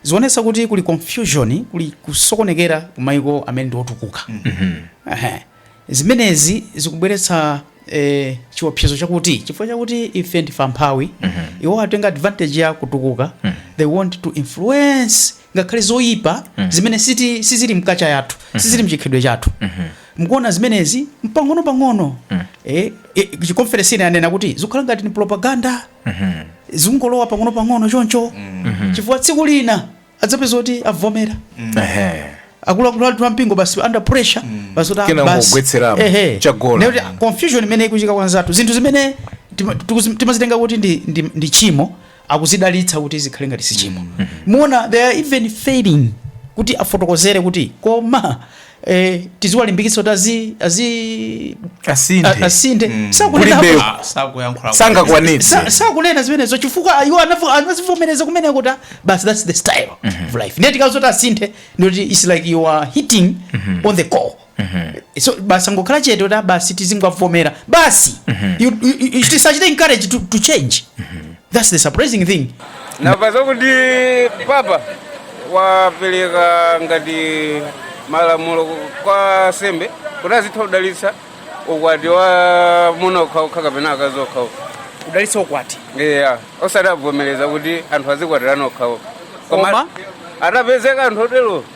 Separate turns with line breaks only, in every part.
zionetsa kuti kuli confusion kuli kusokonekera ku maiko amene ndi otukuka Ehe. zimenezi zikubweretsa eh, chiopsezo chakuti chifukwa chakuti ife ndife amphawi iwo atenga advantage ya kutukuka they want to influence ngakhale zoyipa zimene siti- sizili m'culture yathu sizili mchikhalidwe chathu Mukuona zimenezi mpang'onopang'ono eh, eh, chi conference chinanena kuti zikukhala ngati ni propaganda zikungolowa pang'onopang'ono choncho chifukwa tsiku lina adzapeza kuti avomera Ehe. akuluakulu athu ampingo basi under pressure basi kuti ah, Kena basi. n'kugwetseramo, Ehe. chagola. Nekuti, ah, confusion imene ikuchitika kwanzathu zinthu zimene tima- tikuzi- timazitenga kuti ndi, ndi, ndi tchimo akuzidalitsa kuti zikhale ngati si tchimo mukuona they are even failing kuti afotokozere kuti koma eh, tiziwalimbikitsa kuti azi, azi asinthe a- asinthe Mm. sakunena Kulibe- Ah, sakuyankhula sangakwanitse sa- sakunena zimenezo chifukwa iwo anavo- anazivomereza kumene kuti basi thats the style of life ndiye tikawauza zoti asinthe ndikuti its like you are hitting on the core so basi angokhala chete kuti ah basi tizingowavomera basi You- you- you- tisachite encourage to, to change that's the surprising thing namva zakuti papa wapereka ngati malamulo kwa ansembe kuti azitha kudalitsa ukwati wa amuna okhaokha kapena akazi okhaokha kudalitsa ukwati eya osati wavomereza kuti anthu azikwatirana okhaokha Koma? atapezeka anthu otero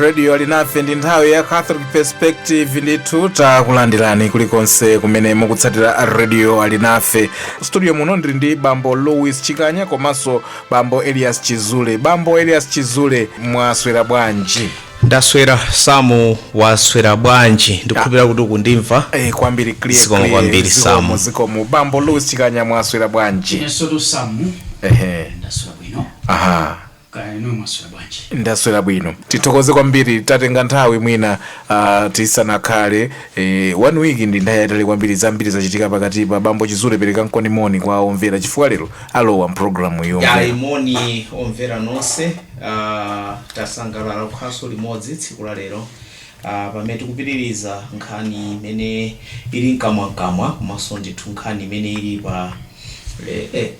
radio alinafe ndi nthawi ya catholic perspective ndithu takulandirani kulikonse kumene mukutsatira radio alinafe studio muno ndiri ndi bambo louis chikanya komanso bambo elias chizule bambo elias chizule mwaswera bwanji ndaswera samu waswera bwanji ndikukhulupirira kuti ukundimva Eh, kwambiri clear, Zikomo clear, kwambiri, zikomo, Samu. zikomo bambo louis chikanya mwaswera bwanji inensotu samu ehe ndaswera bwino aha Kaya inuyo mwaswera bwanji? Ndaswera bwino tithokoze kwambiri tatenga nthawi mwina uh, tisanakhale eh, one week ndi nthawi yatali kwambiri zambiri zachitika pakatipa bambo chizule perekani moni kwa omvera chifukwa lero alowa mpulogalamu iyo yayi moni omvera nonse uh, tasangalala kukhalanso limodzi tsiku la lero Pamene tikupitiliza nkhani imene ili mkamwa mkamwa komanso ndithu nkhani imene ili pa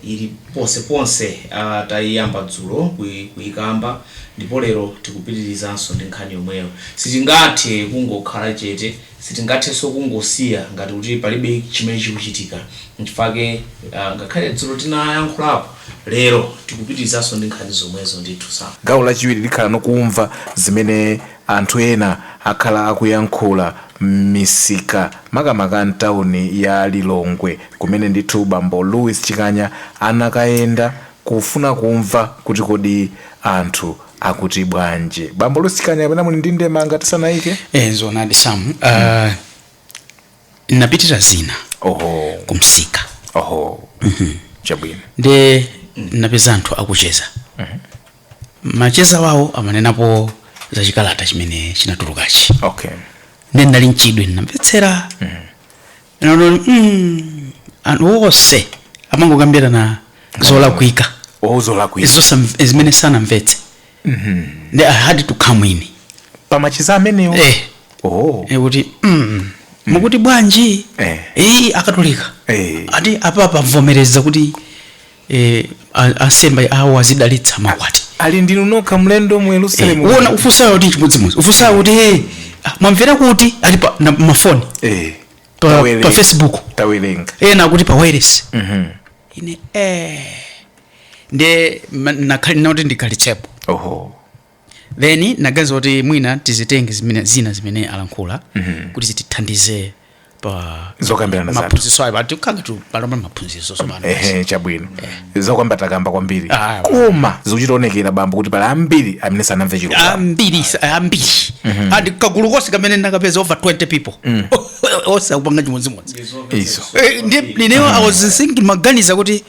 ili ponse ponse taiyamba dzulo kuikamba ndipo lero tikupitilizanso ndi nkhani yomweyo sitingathe kungokhala chete sitingathenso kungosiya ngati kuti palibe chimene chikuchitika nchifukwa chake ngakhale dzulo tinayankhulapo lero tikupitilizanso ndi nkhani zomwezo ndithu. Gawo lachiwiri likhalano kumva zimene Anthu ena akhala akuyankhula m'misika makamaka m'tauni ya Lilongwe kumene ndithu bambo Louis Chikanya anakayenda kufuna kumva kuti kodi anthu akuti bwanji. Bambo Louis Chikanya kapena muli ndi ndemanga tisanaike? Eh, zoonadi Sam. Uh, napitadi zina Oho, kumsika oho, chabwino. nde napeza anthu akucheza macheza wawo amanenapo za chikalata chimene chinatulukachi okay nde ndinali mchidwi ndinamvetsera ndinaona kuti mm, anthu onse amangokambirana zolakwika wauzola kuipa Zosam- zimene sanamvetse nde i had to come in pamacheza amenewo eh, oh eh, kuti mm, mukuti bwanji Eh. iyi akatolika Eh. ati apapa avomereza kuti e, ansembe awo azidalitsa makwati ali ndinu nokha mlendo mu yerusalemu e, eh, uona ufunsayo kuti chimodzimodzi ufunsayo kuti hey, eh, ah, mwamvera kuti ati pa ma, mafoni e, pa, pa facebook tawerenga ena kuti pa wireless mm -hmm. ine eh nde nangoti ndikhalitsepo oho then naganiza kuti mwina tizitenge zimene, zina zimene alankhula kuti zitithandize pa zokambirana zathu maphunziro ayo ati kanga tu palomba maphunziro sosomana ehe chabwino zokamba takamba kwambiri Ah, koma zikuchita kuonekera bambo kuti pali ambiri amene sanamve chilungamo ambiri sa- ambiri ndi kagulu konse kamene nakapeza over 20 people onse akupanga chimodzimodzi izo Eh, ndi- ndinewo i was thinking ndimaganiza kuti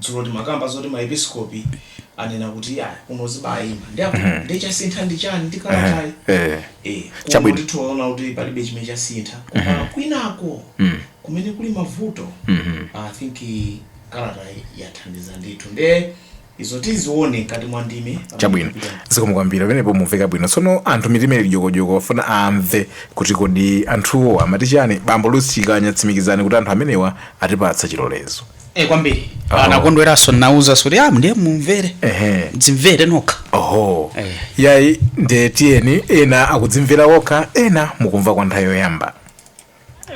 Dzulo timakamba zoti ma episkopi anena kuti ayi kuno zibayima. Nde apo nde chasintha ndi chani ndi kalatayi. Eh. Eh. Kuno Chabwino. ndithu ndiona kuti palibe chimene chasintha. Koma kwinako kumene kuli mavuto. I think kalata yathandiza ndithu. Nde izo tizione mkati mwa ndime. pamene Chabwino. tikupita. Zikomo kwambiri pamenepo mwamveka bwino. Tsono anthu mitima ili dyokodyoko afuna amve kuti kodi anthuwo amati chani. Bambo Louis Chikanya tsimikizani kuti anthu amenewa atipatsa chilolezo. Eh, kwambiri Oh. anakondweranso nauzanso zoti am ndiye mumvere Ehe. mudzimvere nokha oho Eh. yayi nde tiyeni ena akudzimvera okha ena mukumva kwa nthawi yoyamba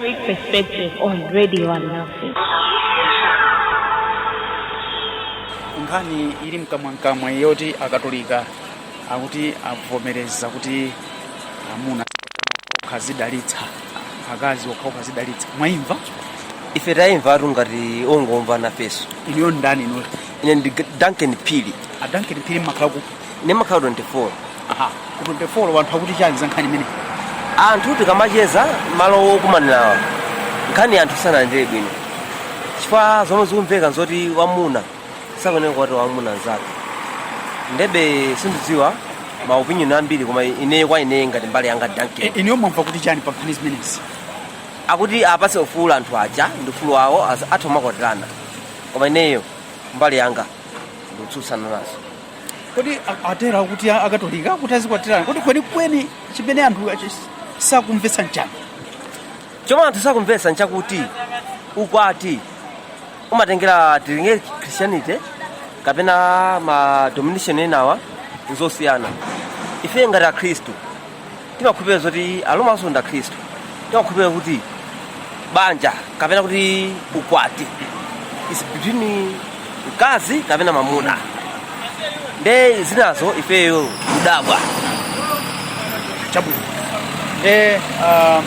Read perspective on radio and nothing. nkhani ili mkamwamkamwa yoti akatolika akuti avomereza kuti amuna okha azidalitsa akazi okha okha azidalitsa mwaimva ife taimva tu ngati ongomva nafenso inuyo ndani ino ine ndi duncan phiri a duncan phiri mumakhala ku ndimakhala 24 aha ku 24 anthu akuti chani za nkhani imeneyi anthu tikamacheza m'malo okumanirawa nkhani anthu sanailandire bwino chifukwa zomwe zikumveka nzoti amuna sakuyenera kukwatira mwamuna mnzake ndebe sindidziwa ma opinion ambiri koma ineyo kwa ineyo ngati mbali yanga E- inuyo mwamva kuti chani pa nkhani zimenezi akuti apase ufulu anthu aja ndi ufulu wawo as- atha kumakwatirana koma ineyo mbali yanga ndikutsutsana nazo kodi a- atero kuti a- akatolika kuti azikwatirana kodi kwenikweni chimene anthu achi- sakumvetsa nchani chomwe anthu sakumvetsa nchakuti ukwati umatengera tili ndi christianity kapena ma domination enawa nzosiyana ife ngati akhristu timakhulupirira zoti aromanso ndi akhristu timakhulupirira kuti banja kapena kuti ukwati is between mkazi ndi mamuna nde zinazo ifeyo kudabwa chabwino nde um,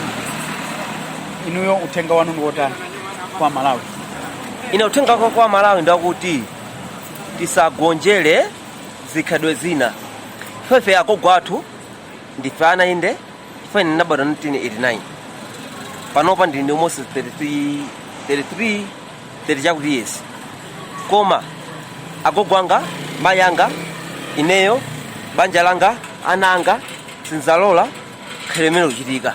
inuyo uthenga wanu ndi wotani kwa malawi ine uthenga wanga kwa malawi ndakuti tisagonjere zikhalidwe zina ifefe agogo athu ndife ana inde ife ndinabadwa 1989 panopa ndili ndi almost 33 33 30 chakuti years koma agogo anga mayi anga ineyo banja langa ana anga sinzalola khalidwe limene likuchitika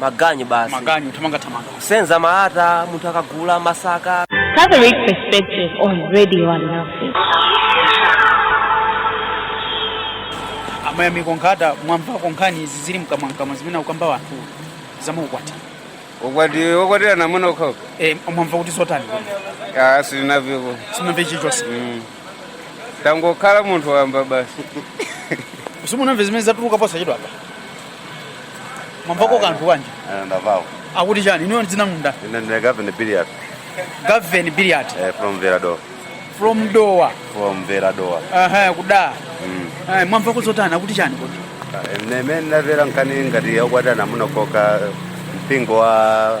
maganyu basi maganyu thamanga thamanga senza malata munthu akagula masaka Catholic Perspective on Radio and Nothing. amayamika nkhata mwamvako nkhani izi zili mkamwamkamwa zimene akukamba anthu za maukwati ukwati okwatirana amuna okhaokha e, mwamva kuti zotani asinaviko sinamve chilichonse tangokhala munthu wamba basi simunamve zimene zatuluka posachedwa apa mwamvako kanthu kanji ndamvako akuti chani inuyo dzina ndinu nda ine ndine gavin biliard gaven biliard eh, from veradoa from dowa from veradoa aha ku dowa Mm. Ayi, mwamvako zotani akuti chani kodi Eh, mmene ndamvera nkhani ngati yokwatirana amuna okhaokha mpingo wa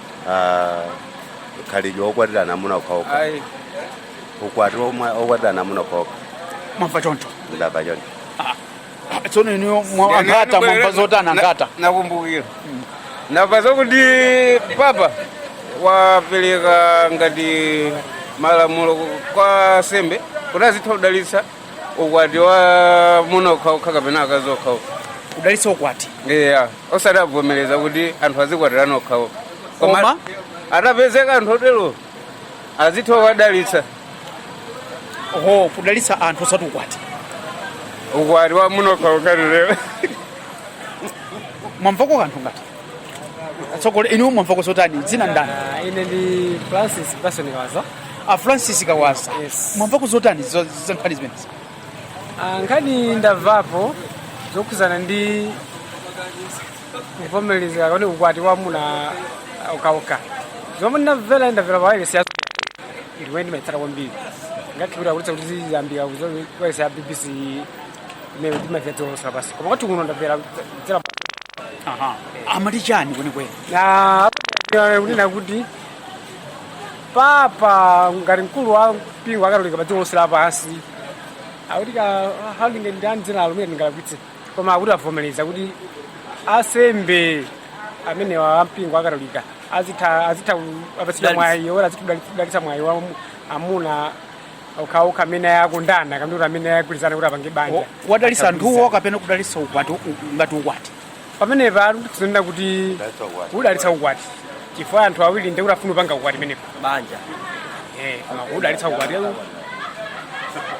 ah, khalidwe okwatirana amuna okhaokha ayi ukwati omwe- okwatirana amuna okhaokha mwamva choncho ndamva choncho Ah, tsono inuyo mwa- angata mwamva zotani angata Na- ndakumbukira ndamva zakuti papa wapereka ngati malamulo kwa ansembe kuti azitha kudalitsa ukwati wa amuna okhaokha kapena akazi okhaokha kudalitsa ukwati eya osati kuvomereza kuti anthu azikwatirana okhaokha Koma? atapezeka anthu otero azitha kuwadalitsa ho kudalitsa anthu osati ukwati ukwati wa amuna okhaokha lero mwamvako kanthu ngati atsogoleri inu mwamvako zotani dzina ndani Ah, ine ndi francis pasoni kawaza a francis kawaza Yes. mwamvako zotani za za nkhani zimenezi Ah, nkhani ndamvapo zokhudzana ndi kuvomereza ukwati wa amuna okhaokha zomwe ndamvera ndamvera pawayilesi ya ndiwe ndimaitsata kwambiri ngakhipira kulitsa kuti ziyambira kuwayilesi ya bbc imene ndimaitsata dziko lonse lapansi koma kwathu kuno ndamvera kudzera Aha. Amati chani kwenikweni? amanena kuti papa ngati mkulu wa mpingo akatolika pa dziko lonse lapansi akuti ka handinge ndi andzina alumire ndingalakwitse koma akuti avomereza kuti asembe amenewa ampingo akatolika azitha azitha apatsidwa Dalitsa. mwayi woti azidalitsa mwayi wa mu- amuna okhaokha amene akondana kapena kuti amene agwirizana kuti apange banja kuwadalitsa anthuwo kapena kudalitsa ukwati u- ngati ukwati pamenepa tizinena kuti kudalitsa ukwati chifukwa anthu awiri ndiye kuti afuna kupanga ukwati pamenepo banja Eh, koma kudalitsa ukwati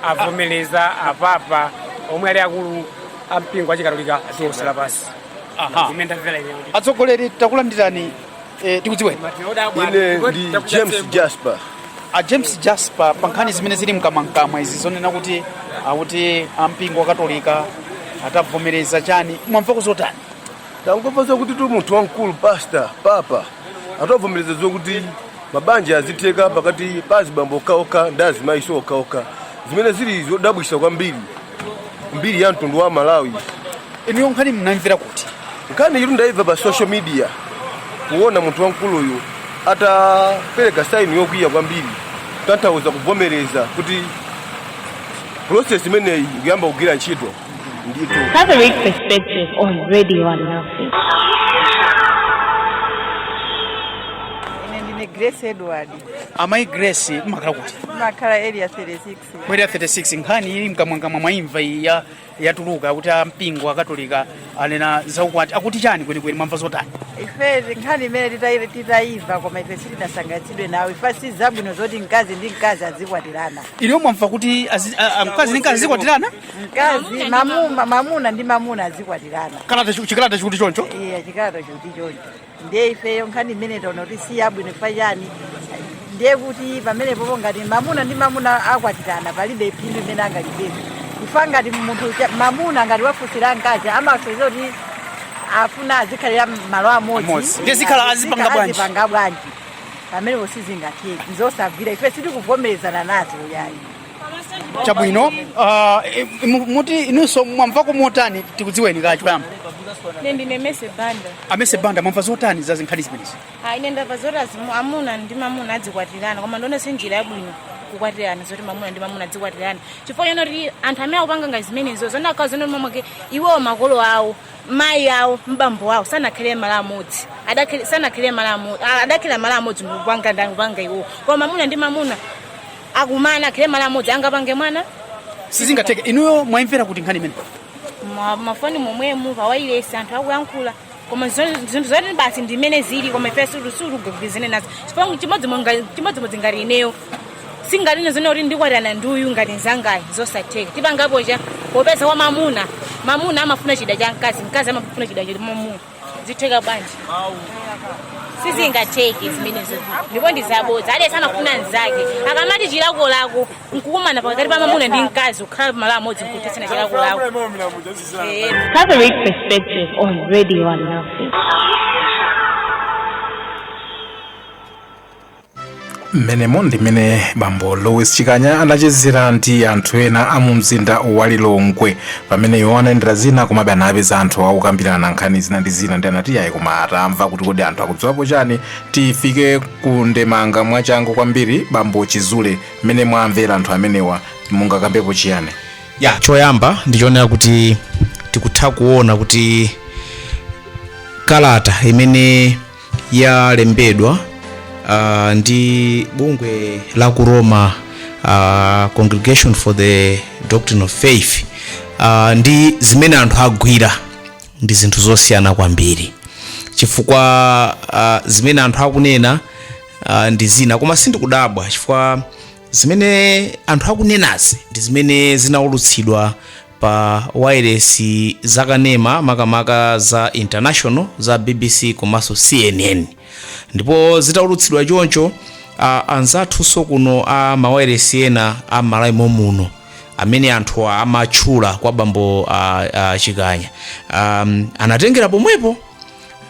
avomereza apapa omwe ali akulu ampingo achikatolika dziko lonse lapansi Aha. imene ndamvera ineyo atsogoleri takulandirani Eh, tikudziwe ine ndi james jasper a james jasper pa nkhani zimene zili mkamwamkamwa izi zonena kuti akuti ampingo wakatolika atavomereza chani mwamvako zotani tangomva zakutitu munthu wamkulu pasta papa atavomereza zokuti mabanja azitheka pakati pa azibambo okhaokha ndi azimayiso okhaokha zimene zili zodabwisa kwambiri mbiri ya mtundu wa malawi inuyo nkhani munamvera kuti nkhani iyitu ndaimva pa social media kuona munthu wamkuluyu atapereka saini yokwiya kwambiri kutanthauza kuvomereza kuti process imeneyi ikuyamba kugwira ntchito ndithu Catholic Perspective on Radio and Nothing. ine ndine grace edward amayi grace mumakhala kuti ndimakhala area 36 Ku area 36 nkhani ili mkamwamkamwa mwaimva iyi ya yatuluka kuti ampingo akatolika anena zaukwati akuti chani kwenikweni mwamva zotani ife nkhani imeneyi titayi- titayimva koma ife sitinasangalatsidwe nawo ife si zabwino zoti mkazi ndi mkazi azikwatirana inuyo mwamva kuti azi- a- a- mkazi ndi mkazi azikwatirana mkazi mamuma mamuna ndi mamuna azikwatirana kalata chikalata chikuti choncho iye chikalata chikuti choncho ndiye ifeyo nkhani imene taona kuti si yabwino chifukwa chani ndiye kuti pamenepopo ngati mamuna ndi mamuna akwatirana palibe phindu limene angalipeze chifukwa ngati munthu mamuna ngati wafunsira mkazi amasonyeza kuti afuna azikhalira malo amodzi azipanga bwanji pamenepo sizingatheke nzosagwira ife sitikuvomerezana nazo yayi chabwino uh, e- mu- muti inunso mwamvako motani tikudziweni kaye choyamba ine ndine mese banda amese banda mwamva zotani za nkhani zimenezi Ah, ine ndamva zoti azimu- amuna ndi mamuna adzikwatirana koma ndiona kuti si njira yabwino kukwatirana zoti mamuna ndi mamuna adzikwatirana chifukwa chani kuti anthu amene akupanga ngati zimenezo zona akawa zona mamake iwowo makolo awo mayi awo bambo awo sanakhale malo amodzi Adakhala- sanakhale malo amodzi adakhala malo amodzi ndikupanga ndikupanga iwowo koma mamuna ndi mamuna akumana akhale malo amodzi angapange mwana sizingatheke inuyo mwayimvera kuti nkhani imeneyi Ma- mafoni momwemu pawailesi anthu akuyankhula koma zo- zinthu zoti basi ndimene zili koma ife sitikugwirizana nazo chimodzimodzi ngati ineyo sizingatheke zoona kuti ndikwatirana ndi uyu ngati mnzangayu zosatheka tipangapo chani popeza kwa mamuna mamuna amafuna chida cha mkazi mkazi amafuna chida cha mamuna zitheka bwanji sizingatheke zimenezo ndipo ndizabodza aliyense amafuna mnzake akamati chilakolako nkukumana pakati pa mamuna ndi mkazi kukhala pamalo amodzi nkuthetsana chilakolako mmenemo ndimene bambo louis chikanya anachezera ndi anthu ena a mu mzinda wa lilongwe pamene iwo anayendera zina komabe anapeza anthu akukambirana nkhani zina ndi zina ndi anati ayi koma atamva kuti kodi anthu akudziwapo chani tifike ku ndemanga mwachangu kwambiri bambo chizule mmene mwamvera anthu amenewa mungakambepo chiyani ya choyamba ndi choonera kuti tikutha kuona kuti kalata imene yalembedwa uh, ndi bungwe la ku roma uh, congregation for the doctrine of faith uh, ndi zimene anthu agwira ndi zinthu zosiyana kwambiri chifukwa uh, zimene anthu akunena uh, ndi zina koma sindikudabwa chifukwa zimene anthu akunenazi ndi zimene zinaulutsidwa pa wailesi zakanema makamaka za international za bbc komanso cnn ndipo zitaulutsidwa choncho uh, anzathunso kuno a mawailesi ena a malawi momuno amene anthu amatchula kwa bambo uh, uh, chikanya um, anatengera pomwepo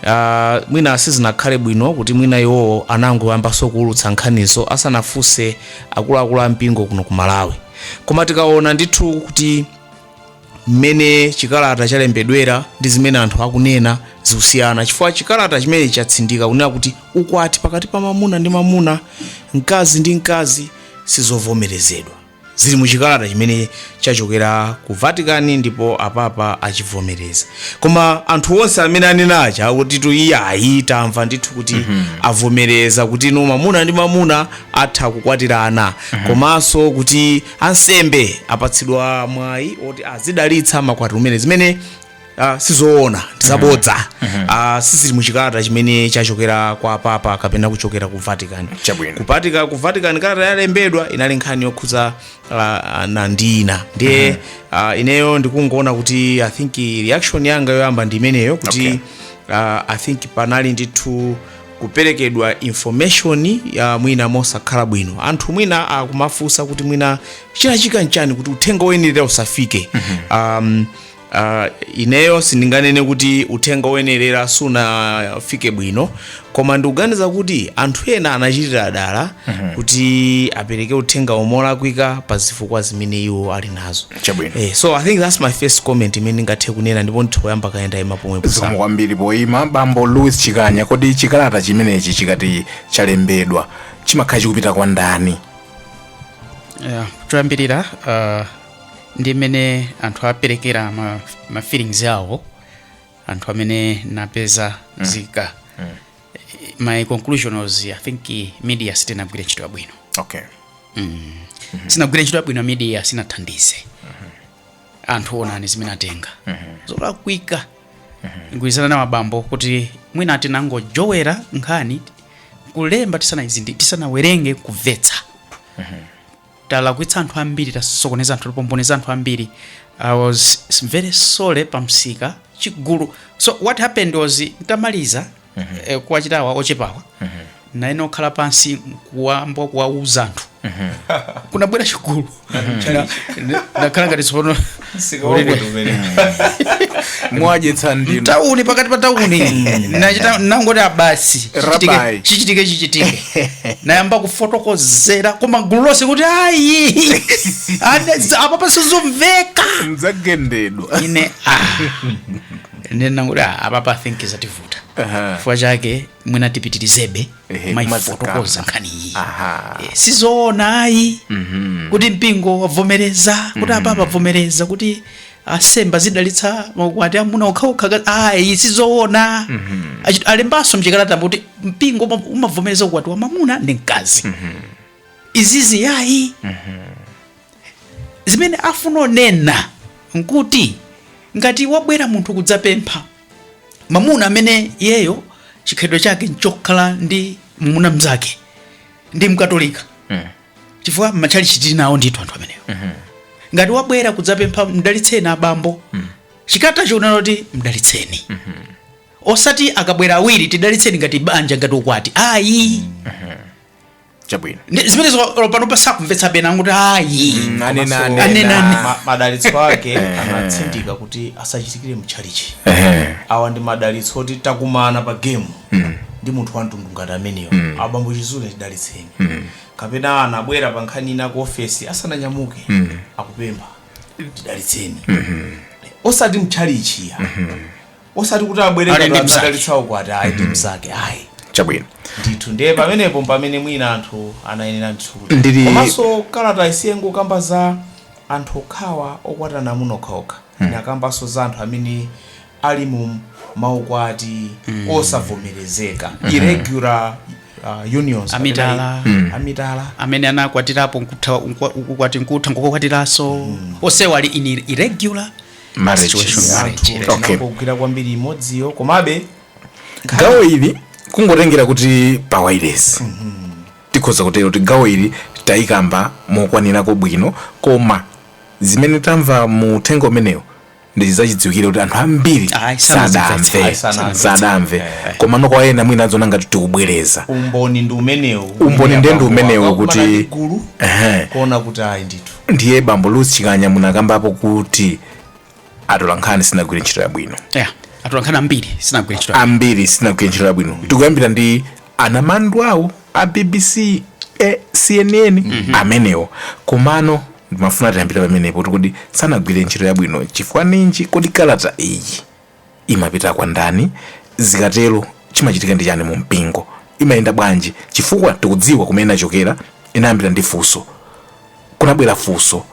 Ah, mwina sizinakhale bwino kuti mwina iwowo anangoyambanso kuulutsa nkhanizo asanafunse akuluakulu a mpingo kuno ku malawi koma tikaona ndithu kuti mmene chikalata chalembedwera ndi zimene anthu akunena zikusiyana chifukwa chikalata chimene chatsindika kunena kuti ukwati pakati pa mamuna ndi mamuna mkazi ndi mkazi sizovomerezedwa zili mu chikalata chimene chachokera ku vatican ndipo apapa achivomereza koma anthu onse amene anena aja akuti iyayi tamva ndithu kuti avomereza kuti ino mamuna ndi mamuna atha kukwatirana komanso kuti ansembe apatsidwa mwayi oti azidalitsa maukwati omwe zimene uh, sizoona ndizabodza uh, sizili muchikalata chimene chachokera kwa papa kapena kuchokera ku vatican Chabwino. kupatika ku vatican kalata yalembedwa inali nkhani yokhudza uh, nandina ndiye uh, ineyo ndikungoona kuti i think reaction yanga yoyamba ndi imeneyo kuti Okay. uh, i think panali ndithu kuperekedwa information ya mwina mosakhala bwino anthu mwina akumafunsa kuti mwina chinachitika nchani kuti uthenga woyenera usafike um, Uh, ineyo sindinganene kuti uthenga woyenerera sunafike bwino koma ndikuganiza kuti anthu ena anachitira dala mm -hmm. kuti apereke uthenga olakwika pa zifukwa zimene iwo ali nazo Chabwino. eh, so i think that's my first comment imene ndingathe kunena ndipo nditha kuyamba kaye ndaima pomwe zikomo kwambiri poyima bambo louis chikanya kodi chikalata chimenechi chikati chalembedwa chimakhala chikupita kwa ndani yeah. choyambirira uh, ndi mmene anthu aperekera ma, ma feelings awo anthu amene napeza zika my conclusion was i think eh, media sinagwire ntchito yabwino okay sinagwire ntchito yabwino media sinathandize anthu onani zimene atenga zolakwika ndigwirizana nawo abambo kuti mwina tinangojowera nkhani kulemba tisanayizindi tisanawerenge kumvetsa talakwitsa anthu ambiri tasokoneza anthu tapomboneza anthu ambiri i was very sorry pamsika chigulu so what happened was ntamaliza eh, kuwachita awa ochepawa nane nokhala pansi nkuyamba kuwauza anthu kunabwera chigulu Na- na- nakhala ngati tsopano mwajetsa ndinu mtauni pakati pa tauni nachita nangoti ah basi Rabbi. chichitike chichitike nayamba kufotokozera koma gulu lonse kuti ayi ana- apapa sizikumveka ndzagendedwa ine ah. ine nangoti ah, apapa think zativuta Aha. chifukwa chake mwina tipitirizebe Ehe, kumazikamba. kumayifotokoza nkhani iyi Aha. Eh, sizoona ayi kuti mpingo wavomereza kuti apa apapa avomereza kuti asemba zidalitsa maukwati amuna okhaokha ka- ayi sizoona Achi- alembanso mchikalatamo kuti mpingo uma- umavomereza ukwati wa mamuna ndi mkazi izizi ayi zimene afuna onena nkuti ngati wabwera munthu kudzapempha mamuna amene iyeyo chikhalidwe chake nchokhala ndi mamuna mnzake ndi mkatolika chifukwa mmatchalichi tili nawo ndithu anthu amenewo ngati wabwera kudzapempha mdalitseni abambo chikalatacho chinanena kuti mdalitseni osati akabwera awiri tidalitseni ngati banja ngati ukwati ayi chabwino Ndi- zimenezo olo panopa sakumvetsa ena akuti ayi anenane Anenane. Ma- madalitso ake anatsindika kuti asachitikire mtchalichi Ehe. awa ndi madalitso oti takumana pa gemu ndi munthu wa mtundu ngati ameneyo abambo chizule tidalitseni kapena anabwera pa nkhani ina ku ofesi asananyamuke akupempha ndidalitseni osati mtchalichi ayi osati kuti abwere Ali ngati ndi mzake. amudalitse ukwati ayi ndi mzake ayi chabwino ndithu ndiye pamenepo mpamene mwina anthu anayenera ndithu kuti Ndili- komanso kalata siyikungokamba za anthu okhawa okwatana amuna okhaokha inakambanso za anthu amene ali mu maukwati osavomerezeka irregular uh, unions Amitala. kapena- amitala amene anakwatirapo nkutha- nkwa- ukwati nkutha nkukakwatiranso onsewo ali in irregular marriage Situation, is marriage anthu relationship. Okay. tinangogwira kwambiri imodziyo komabe gawo ili kungotengera kuti pa wayilesi tikhoza kutero kuti gawo ili tayikamba mokwanirako bwino koma zimene tamva mu uthenga umenewu ndi zachidziwikire kuti anthu ambiri Ayi, sanazimvetse. sadamve Ayi, sanamvetse. sadamve Eh. komano kwa ena mwina aziona ngati tikubwereza umboni ndi umenewu Umboni ndi ndi umenewu kuti- gulu Ehe. kuona kuti ayi ndithu ndiye bambo Louis Chikanya munakambapo kuti atolankhani sanagwire ntchito yabwino yeah. atolankhani ambiri sanagwire ntchito ambiri sanagwire ntchito yabwino tikuyambira ndi anamandwawo a bbc eh, cnn mm -hmm. amenewo komano ndimafuna tiyambire pamenepo kuti kodi sanagwire ntchito yabwino chifukwa ninji kodi kalata iyi imapita kwa ndani? Zikatero chimachitika ndi chani mu mpingo? Imayenda bwanji? Chifukwa tikudziwa kumene inachokera, inayambira ndi funso. Kunabwera funso,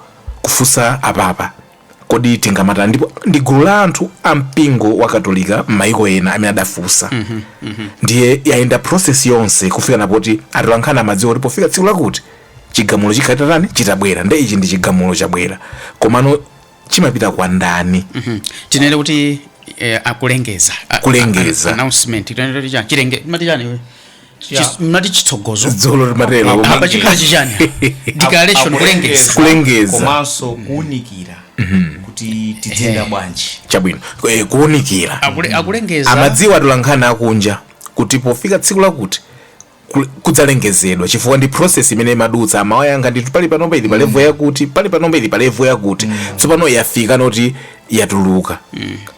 kufunsa apapa, kodi tingamatani? Ndipo ndi gulu la anthu a mpingo wa Katolika m'mayiko ena amene adafunsa. Ndiye yayenda process yonse kufika na poti atolankhani amadziwa kuti pofika tsiku lakuti chigamulo chikhala chitabwera. Nde ichi ndi chigamulo chabwera. Komano chimapita kwa ndani tinene kuti eh, akulengeza A- Kulengeza. a- announcement tinene kuti chani chilengezo amati chani iwe? Yeah. Chis- amati chitsogozo dzulo timatero Apa- apa chikhala chichani declaration kulengeza Kulengeza. komanso kuunikira kuti tidzenda Ehe. bwanji chabwino Eh, kuunikira Akule- akulengeza amadziwa atolankhani akunja kuti pofika tsiku lakuti ku- kudzalengezedwa chifukwa ndi process imene imadutsa amawayankha ndithu, pali panopa ili palevo yakuti pali panopa ili pa level yakuti tsopano yafika noti yatuluka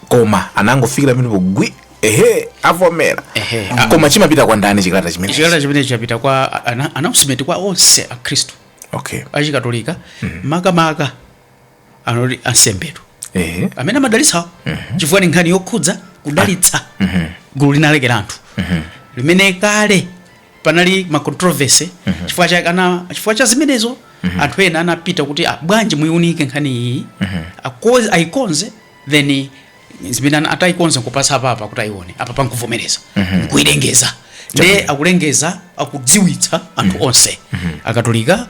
koma anangofikira pamenepo gwi ehe avomera Ehe, ah. koma chimapita kwa ndani chikalata chimene chikalata chimene chapita kwa ana- announcement kwa onse akhristu okay achikatolika makamaka anoti ansembetu ehe amene amadalitsawo chifukwa ni nkhani yokhudza kudalitsa gulu linalake la anthu limene kale panali ma controversy chifukwa cha ana chifukwa cha zimenezo anthu ena anapita kuti ah, bwanji muiunike nkhani iyi Akoze- ayikonze then zimene ana- atayikonze nkupatsa apapa kuti ayione apapa nkuvomereza nkuyilengeza nde akulengeza akudziwitsa anthu onse akatolika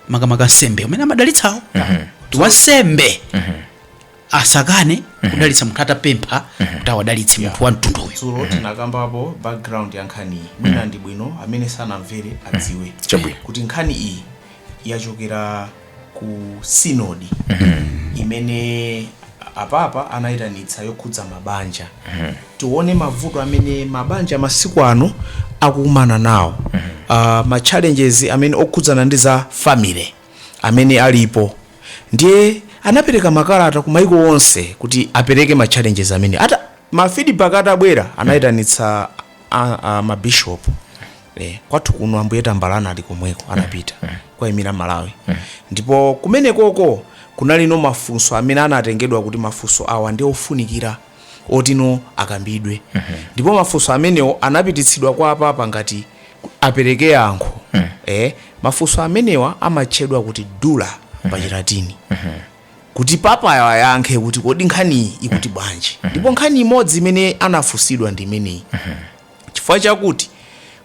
makamaka ansembe amene amadalitsawo kuti wansembe asakane kudalitsa munthu atapempha kuti awadalitse munthu wa mtunduwo dzulo tinakambapo background ya nkhani iyi mwina ndi bwino amene sanamvere adziwe Chabwino. kuti nkhani iyi yachokera ku sinodi imene apapa anayitanitsa yokhudza mabanja tione mavuto amene mabanja masiku ano akukumana nawo uh, ma challenges amene okhudzana ndi za family amene alipo ndiye anapereka makalata ku maiko onse kuti apereke ma challenges amene ata ma feedback atabwera anayitanitsa a- a- ma bishop eh, kwathu kuno ambuye tambala anali komweko anapita kukayimira malawi ndipo kumenekoko kunali mafunso amene anatengedwa kuti mafunso awa ndi ofunikira otino akambidwe ndipo mafunso amenewo anapititsidwa kwa apapa kuti apereke yankho eh, mafunso amenewa amatchedwa kuti dubia pa chilatini kuti papayo ayankhe kuti kodi nkhaniyi ikuti bwanji ndipo nkhani imodzi imene anafunsidwa ndi imeneyi Chifukwa chakuti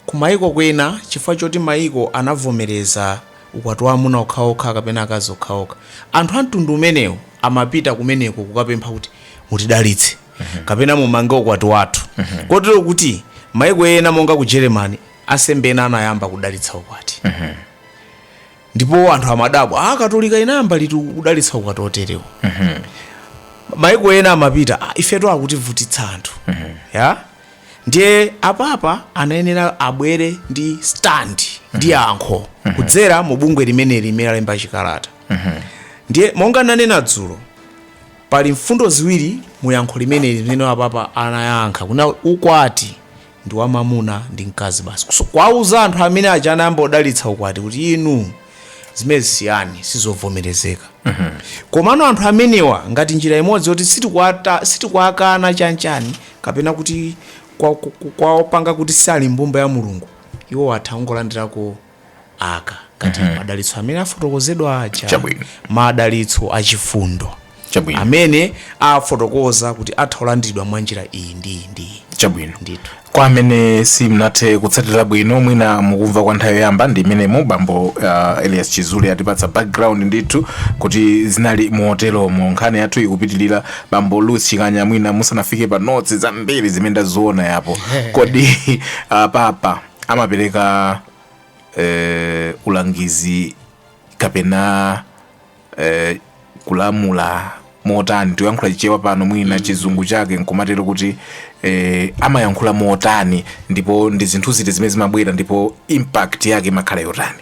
kumayiko kwina, chifukwa choti mayiko anavomereza ukwati wa amuna okhaokha kapena akazi okhaokha, anthu a mtundu umenewu amapita kumeneko kukapempha kuti, Mutidalitse kapena mumange ukwati wathu. Kotero kuti mayiko ena monga ku Germany, ansembe ena anayamba kudalitsa ukwati. Ndipo anthu amadabwa, Haa, Katolika inayamba liti kudalitsa ukwati woterewu? Mayiko ena amapita, "Ah, ifetu akutivutitsa anthu. Ya? ndiye apapa anayenera abwere ndi stand ndi yankho kudzera mu bungwe limeneli limene alemba chikalata ndiye monga nanena dzulo pali mfundo ziwiri mu yankho limeneli zimene apapa anayankha kunena ukwati ndi wamamuna ndi mkazi basi So, kwauza anthu amene aja anayamba odalitsa ukwati kuti inu zimenezi siyani sizovomerezeka komano anthu amenewa ngati njira imodzi yoti sitikwata- sitikwakana chanichani kapena kuti kwa- ku- ku- kuwapanga kuti sali mbumba ya mulungu iwo atha kungolandirako kaya ngati madalitso amene afotokozedwa aja Chabwino. madalitso achifundo chabwino amene afotokoza kuti atha kulandiridwa mwa njira iyi ndi iyi ndi iyi chabwino ndithu kwa amene simnathe kutsatira bwino mwina mukumva kwa nthawi yoyamba ndi mmenemo bambo uh, elias chizule atipatsa background ndithu kuti zinali moteromo nkhani yathu ikupitirira bambo louis chikanya mwina musanafike pa notsi zambiri zimene ndaziona apo kodi uh, papa amapereka uh, ulangizi kapena eh, kulamula motani tikuyankhula chichewa pano mwina mm. chizungu chake nkumatero kuti eh, amayankhula motani ndipo ndi zinthu ziti zimene zimabwera ndipo impact yake imakhala yotani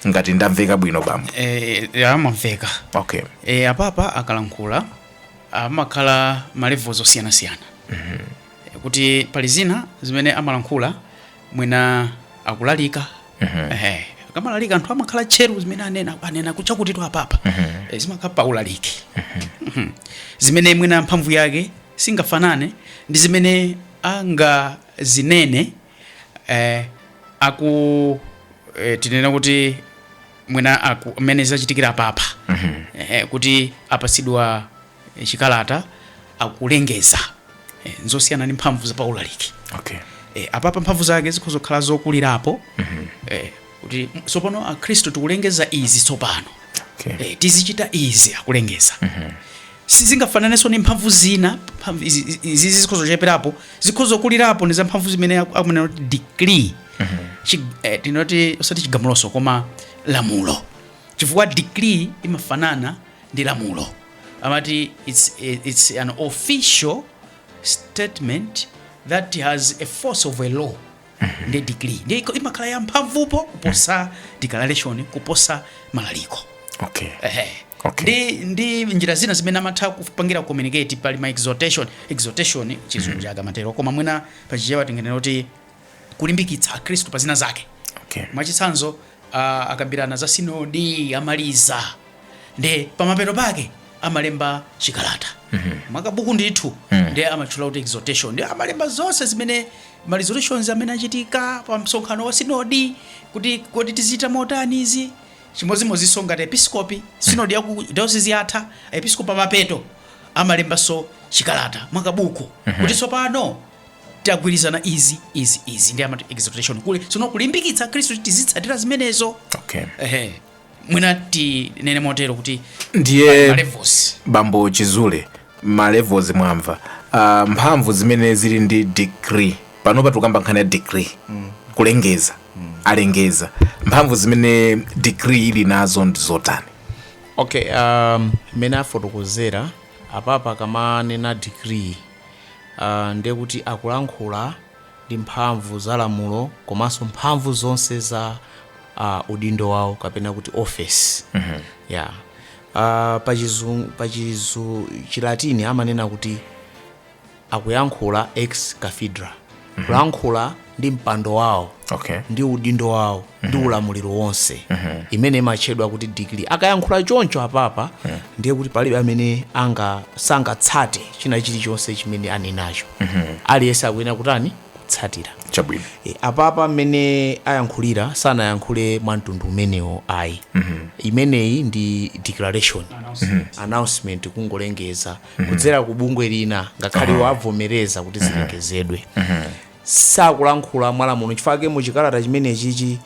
ngati ndamveka bwino bambo eh, eh, mwamveka okay eh, apapa akalankhula amakhala malevels osiyanasiyana mm-hmm. kuti pali zina zimene amalankhula mwina akulalika Ehe. akamalalika anthu amakhala tcheru zimene anena anena kutchera khutu apapa Eh, zimakhala pa ulaliki Mhm. zimene mwina mphamvu yake singafanane ndi zimene angazinene eh, aku eh, tinene kuti mwina aku- amene zachitikira apapa Ehe, kuti apatsidwa eh, chikalata akulengeza eh, nzosiyana ndi mphamvu za paulaliki okay eh, apapa mphamvu zake zikhoza kukhala zokulirapo eh, kuti m- tsopano akhristu tikulengeza izi tsopano okay eh, tizichita izi akulengeza sizingafananenso ndi mphamvu zina mphamvu izi- izi izi zikhoza kucheperapo zikhoza kukulirapo ndi za mphamvu zimene aku- akunena kuti decree Chi- eh, tingoti osati chigamulonso koma lamulo Chifukwa decree imafanana ndi lamulo. Amati it's, a, it's an official statement that has a force of a law ndi decree ndiye iko- imakhala ya mphamvupo kuposa declaration kuposa maulaliko okay Ehe. Okay. ndi ndi njira zina zimene amatha kupangira communicate pali ma exhortation exhortation chizungu chake amatero koma mwina pachichewa tinganene kuti kulimbikitsa akhristu pa zina zake Okay. mwachitsanzo uh, akambirana za sinodi amaliza nde pamapeto pake amalemba chikalata mwakabuku ndithu nde amatchulanso kuti exhortation nde amalemba zonse zimene ma resolutions amene achitika pa msonkhano wa sinodi kuti kodi tizichita motani izi chimodzimodzinso ngati episkopi sinodi yaku diocese yatha episkopi pamapeto amalembanso chikalata mwakabuku kuti tsopano tagwirizana izi izi izi nde amati exhortation kuleza ndi kulimbikitsa akhristu kuti tizitsatira zimenezo okay. ehe mwina tinene motero kuti ndiye malevels bambo chizule malevels mwamva uh, mphamvu zimene zili ndi decree panopa tikukamba nkhani ya decree mm. kulengeza mm. akalengeza mphamvu zimene decree ili nazo ndi zotani okay um, mmene afotokozera apapa akamanena decree aah ndiye kuti akulankhula ndi mphamvu za lamulo komanso mphamvu zonse za uh, udindo wawo kapena kuti office mm -hmm. yeah. uh, pachizu, pachizu chilatini amanena kuti akuyankhula ex cathedra kulankhula ndi mpando wawo okay ndi udindo wawo ndi ulamuliro wonse imene imatchedwa kuti decree akayankhula choncho apapa ndiye kuti palibe amene anga sangatsate china chilichonse chimene anenacho aliyense akuyenera kutani kutsatira chabwino E, apapa mmene ayankhulira sanayankhule mwa mtundu umenewo ayi imeneyi ndi declaration announcement kungolengeza kudzera ku bungwe lina ngakhale iwo avomereza kuti zilengezedwe sakulankhula mwalamulo chifukwa mu chikalata chimenechichi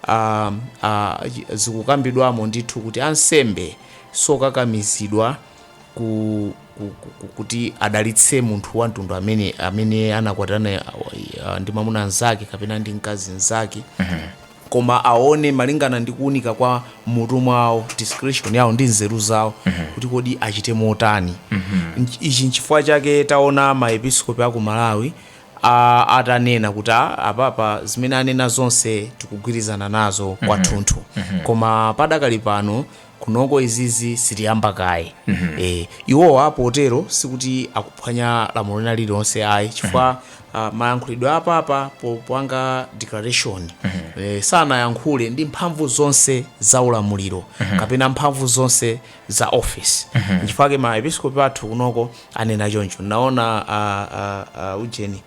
ah, ah, chi- zikukambidwamo ndithu kuti ansembe sokakamizidwa ku, ku, ku, ku, kuti adalitse munthu wa mtundu amene amene anakwatirana ah, ndi mwamuna mnzake kapena ndi mkazi mnzake koma aone malingana ndi kuunika kwa m'mutu mwawo, discretion yawo, ndi nzeru zawo, kuti kodi achite motani. Nch, ichi nchifukwa chake taona ma episkopi aku Malawi a, atanena kuti a, apapa zimene anena zonse tikugwirizana nazo kwathunthu. Koma padakali pano kunoko izizi sitiyamba kaye eh, iwowa potero sikuti akuphwanya lamulo lina lililonse ayi chifukwa ah, mayankhulidwe a papa popanga declaration eh, sanayankhule ndi mphamvu zonse za ulamuliro kapena mphamvu zonse za office nchifukwa chake maepiskopi athu kunoko anena choncho ndaona ah, ah, ah, ujeni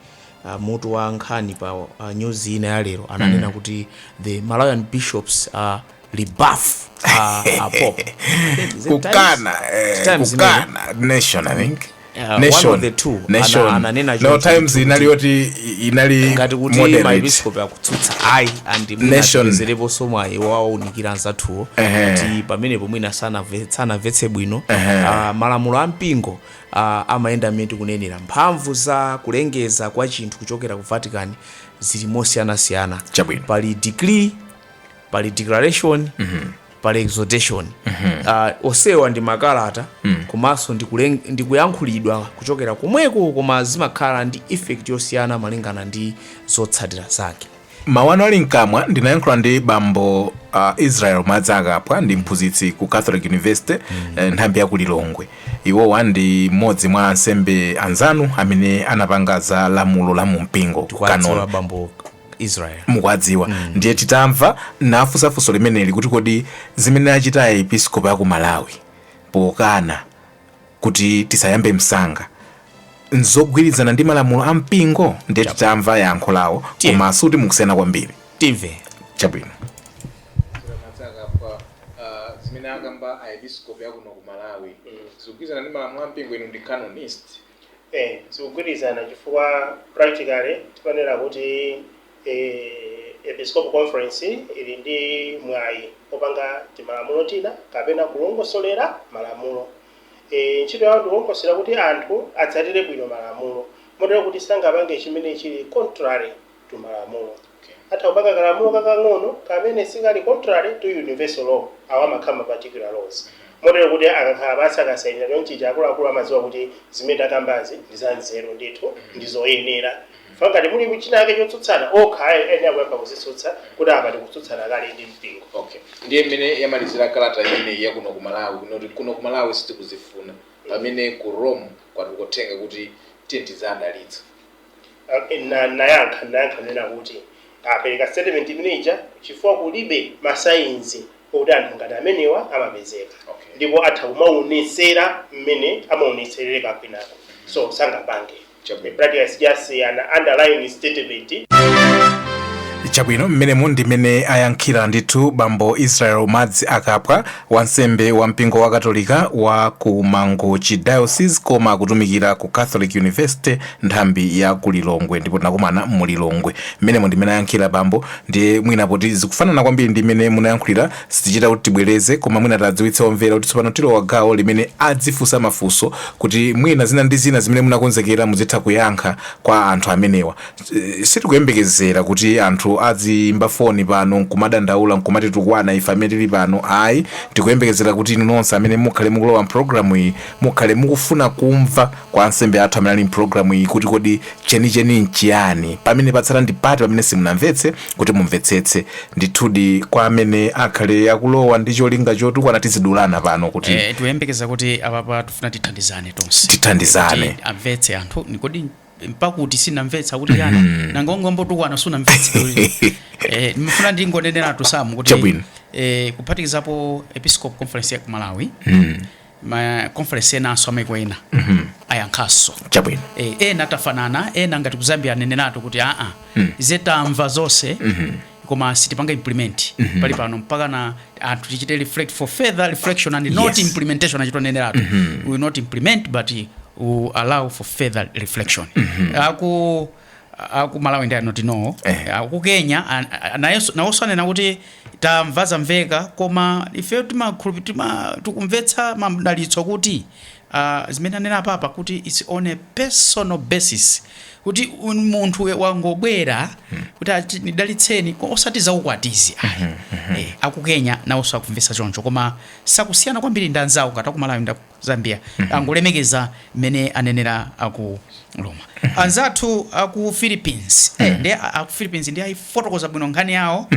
uh, mutu wa nkhani pa uh, nyuzi ina ya lero ananena kuti the malawian bishops are rebuff a, a pop Is it kukana eh, Times kukana nation i think Yeah, one nation of the two. nation Ana- ananena no choncho. times inali yoti inali times? ngati kuti moderate. maepiscope akutsutsa ayi and Nation. mwina tipezereponso mwayi wowaunikira anzathuwo Ehe. kuti pamenepo mwina sanamve- sanamvetse bwino Ah, malamulo a mpingo ah, amayenda mmene tikunenera mphamvu za kulengeza kwa chinthu kuchokera ku vatican zili mosiyanasiyana Chabwino. pali decree pali declaration pali exhortation Ah, onsewa ndi makalata komanso ndi kulen- ndi kuyankhulidwa kuchokera komweko koma zimakhala ndi effect yosiyana malingana ndi zotsatira zake mawu anu ali mkamwa ndinayankhula ndi bambo uh, israel madziakaphwa ndi mphunzitsi ku catholic university eh, nthambi ya ku lilongwe iwowa ndi mmodzi mwa ansembe anzanu amene anapanga za lamulo la mumpingo canon law bambo israel mukuwadziwa ndiye titamva ndinafunsa funso limeneli kuti kodi zimene achita aepiskopi aku malawi pokana kuti tisayambe msanga nzogwirizana ndi malamulo a mpingo ndiye titamva yankho lawo Tiye. koma si kuti mukusiyana kwambiri timve chabwino matsaka pa uh, zimene akamba aepiskopi akuno ku malawi zikugwirizana ndi malamulo a mpingo inu ndi canonist eh zikugwirizana chifukwa practically timanena kuti eh, episcopal conference ili ndi mwayi wopanga timalamulo tina kapena kulongosolera malamulo eh, ntchito yawo ndi kulongosolera kuti anthu atsatire bwino malamulo motero kuti sangapange chimene chili contrary to malamulo. Atha kupanga kalamulo kakang'ono kamene sikali contrary to universal law, awa amakhala ma particular laws, motero kuti akakhala pansi akasainira chonchichi akuluakulu amadziwa kuti zimene takambazi ndi zanzeru ndithu, ndi zoyenera. Chifukwa ngati muli chinachake chotsutsana, okha ayenera kuyamba kuzitsutsa kuti apa tikutsutsana kale ndi mpingo. Okay. Ndiye mmene yamalizira kalata imeneyi ya kuno ku Malawi kunena kuti kuno ku Malawi sitikuzifuna pamene ku Rome kwatuluka uthenga kuti tiyeni tiziwadalitsa. Anayankha ananena kuti, Apereka statement imene ija chifukwa kulibe ma signs okuti anthu ngati amenewa amapezeka. Ndipo atha kumaonetsera mmene amaonetsera kwinako. So, sangapange. Chabwino. Practically, it's just an underlying statement. Chabwino, mmenemo ndi mmene ayankhira ndithu bambo Israel Madziakaphwa. Wansembe wa mpingo wakatolika wa ku Mangochi Diocese koma akutumikira ku Catholic University nthambi ya ku Lilongwe ndipo tinakumana mu Lilongwe. Mmenemo ndi mmene ayankhira bambo ndiye mwina poti zikufanana kwambiri ndi mmene munayankhulira sitichita kuti tibwereze koma mwina tiwadziwitse omvera kuti tsopano tilowa gawo limene azifunsa mafunso kuti mwina zina ndi zina zimene munakonzekera muzitha kuyankha kwa anthu amenewa. eh, sitikuyembekezera kuti anthu aziimba foni pano nkumadandaula nkumatitukwana ife amene tili pano ayi tikuyembekezera kuti inu nonse amene mukhale mukulowa mpulogalamu iyi mukhale mukufuna kumva kwa ansembe athu amene ali mpulogalamu iyi kuti kodi chenicheni nchiyani pamene patsala ndi pati pamene simunamvetse kuti mumvetsetse ndithudi kwa amene akhale akulowa ndi cholinga chotukwana tizidulana pano kuti Eh, tikuyembekeza kuti apapa tifuna tithandizane tonse Tithandizane. Kuti amvetse anthu ni kodi mpati sunamvetsa kuti yani mm-hmm. nanga ungoyambotukwana sunamvetsa eh, ndimafuna ndingoneneratu samu kuti eh, kuphatikizapo episcopal conference ya kumalawi mm. ma conference enanso amaiko ena mm -hmm. ayankhaso chabwino eh, ena tafanana ena ngati kuzambia aneneratu kuti aa mm. zetamva zonse mm -hmm. koma sitipanga implement mm -hmm. pali pano mpakana anthu tichite reflect for further reflection and yes. not implementation achita neneratu mm -hmm. we will not implement but we allow for further reflection mm -hmm. aku aku malawi ndi anoti no eh. aku kenya nawonso anena kuti tamva zamveka koma ife timakhulupi tima tikumvetsa madalitso kuti aah zimene anenera apapa kuti its on a personal basis kuti munthu wangobwera kuti ati ndidalitseni osati za ukwatizi ayi eh, aku Kenya nawonso akumvetsa choncho koma sakusiyana kwambiri ndi anzawo ngati akumalawi ndi aku Zambia angolemekeza mmene anenera aku Roma anzathu aku Philippines eh, ndi a- aku Philippines ndi ayifotokoza bwino nkhani yawo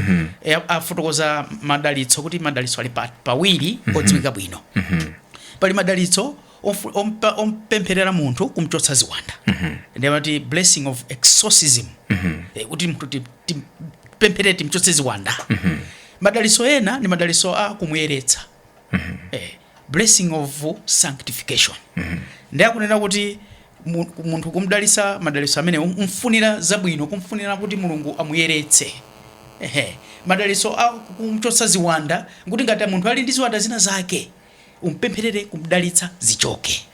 eh, afotokoza madalitso kuti madalitso ali pa- pawiri odziwika bwino Pali madalitso omfu- ompa- ompempherera munthu kumchotsa ziwanda ndi amati blessing of exorcism Eh, kuti mtu ti- ti- timpempherere timchotse ziwanda madalitso ena ndi madalitso a kumuyeretsa eh, blessing of sanctification ndi akunena kuti mu- munthu kumdalitsa madalitso amene um- kumfunira zabwino kumfunira kuti mulungu amuyeretse Ehe. madalitso a kumchotsa ziwanda nkuti ngati munthu ali ndi ziwanda zina zake umpempherere kumdalitsa zichoke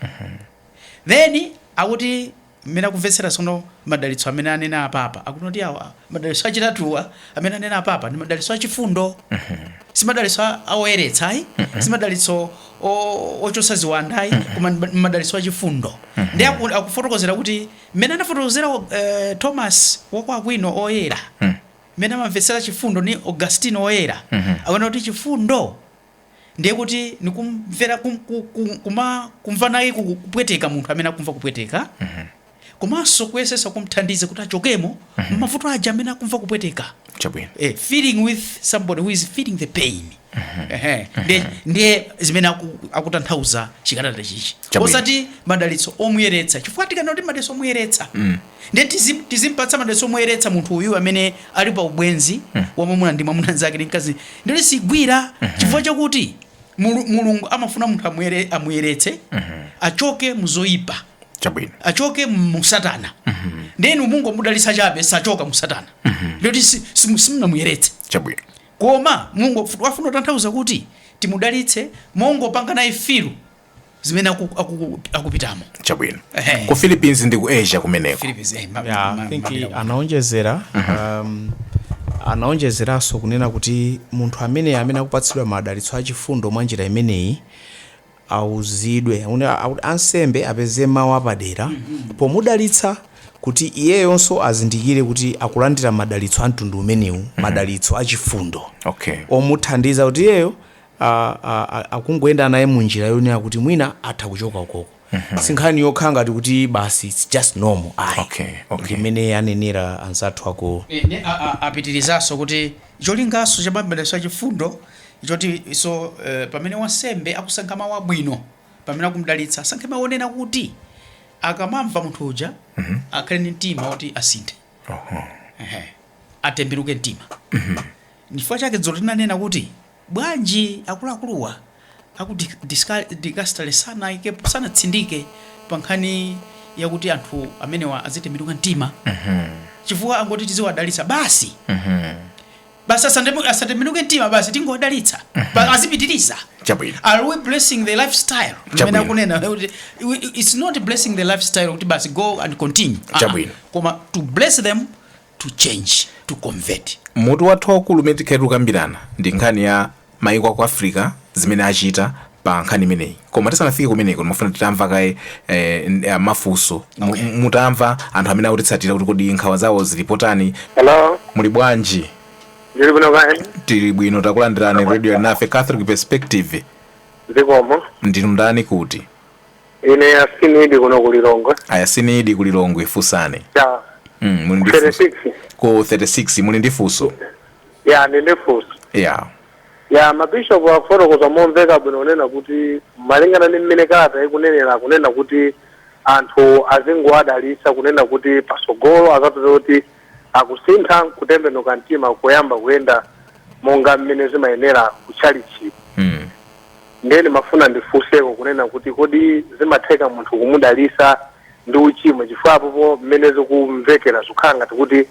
then akuti mmene akumvetsera sono madalitso amene anena apapa akuti kuti awa madalitso achitatuwa amene anena apapa ndi madalitso achifundo si madalitso a- a oyeretsa ayi si madalitso o- ochotsa ziwanda ayi koma ndi ma- ndi madalitso achifundo ndi aku- akufotokozera kuti mmene anafotokozera eh, thomas wakwa akwino oyera mmene amamvetsera chifundo ni augustino oyera akunena kuti chifundo ndiye kuti ni kumvera kum, ku, ku, kuma, kumva naye ku- kupweteka munthu amene akumva kupweteka komanso kuyesesa kumthandiza kuti achokemo mmavuto aja amene akumva kupweteka chabwino eh, feeling with somebody who is feeling the pain Ehe. Ndiye- ndiye zimene aku- akutanthauza chikalata ichichi Chabwino. osati madalitso omuyeretsa chifukwa tikanena kuti madalitso omuyeretsa Ndiye tizip, tizimpatsa madalitso moyeretsa munthu uyu amene ali pa ubwenzi wa mwamuna ndi mwamuna mzake ndi mkazi ndi ndiyoti sigwira chifukwa chakuti Mulu, Mulungu amafuna munthu amuyere, amuyeretse achoke mu zoyipa chabwino achoke mu satana ndiye inu mungomudalitsa chabe sachoka mu satana ndiyoti si- simu- simunamuyeretse chabwino koma mulungu afu- afuna kutanthauza kuti timudalitse mongopanga naye feel zimene aku- aku- akupitamo chabwino Ehe. ku philippines ndi ku asia kumeneko Philippines, eh, ma- Yeah, ma- I think mapita- anaonjezera um, anaonjezeranso kunena kuti munthu amene amene akupatsidwa madalitso achifundo mwa njira imeneyi auzidwe Une- au- ansembe apeze mawu apadera pomudalitsa kuti iyeyonso azindikire kuti akulandira madalitso a mtundu umenewu madalitso achifundo okay omuthandiza kuti iyeyo a, a, a, akungoyenda naye mu njira yonena kuti mwina atha kuchoka ukoko sinkhani yokhala ngati kuti basi its just normal ayi Okay, okay. ndimene anenera anzathu ako Ni- ni- a- a- apitirizaso kuti cholingaso cha mabless achifundo choti iso eh, pamene wansembe akusankha mawu abwino pamene akumdalitsa asankhe mawu onena kuti akamamva munthu uja akhale ndi mtima woti asinthe Oho. Ehe. atembenuke mtima chifukwa chake dzulo tinanena kuti Bwanji akuluakuluwa aku Dicastery sanaikepo, sanatsindike pa nkhani yakuti anthu amenewa azitembenuka mtima chifukwa angoti tiziwadalitsa basi? Basi asatembenuke mtima basi tingowadalitsa basi azipitiliza? Chabwino. Are we blessing the life style mmene Chabwino. akunena kuti it's not blessing the life style kuti basi go and continue Ah, ah. Chabwino. koma to bless them to change, to convert. Mutu wathu waukulu umene tikhale tikukambirana ndi nkhani ya maiko aku Africa zimene achita pa nkhani imeneyi koma tisanafike kumeneko ndimafuna titamva kaye eh, mafunso mutamva anthu amene akutitsatira kuti kodi nkhawa zawo zili potani Hello. muli bwanji Ndili bwino kaya. tili bwino takulandirani Radio Alinafe catholic perspective zikomo ndinu ndani kuti Ine Yasini Idi kuno ku Lilongwe. Ayasini Idi ku Lilongwe funsani. Ya. Mm, muli ndi funso. 36. Ku 36 muli ndi funso. Ya ndili ndi funso. Ya. Ya mabishopu akufotokoza momveka bwino kunena kuti malingana ndi mmene kalata ikunenera kunena kuti anthu azingowadalitsa kunena kuti pasogolo azapeza kuti akusintha nkutembenuka mtima nkuyamba kuyenda monga mmene zimayenera ku tchalitchi. Mm. Ndiye ndimafuna ndifunseko kunena kuti kodi zimatheka munthu kumudalisa ndi uchimo chifukwa apopo mmene zikumvekera zikukhala ngati kuti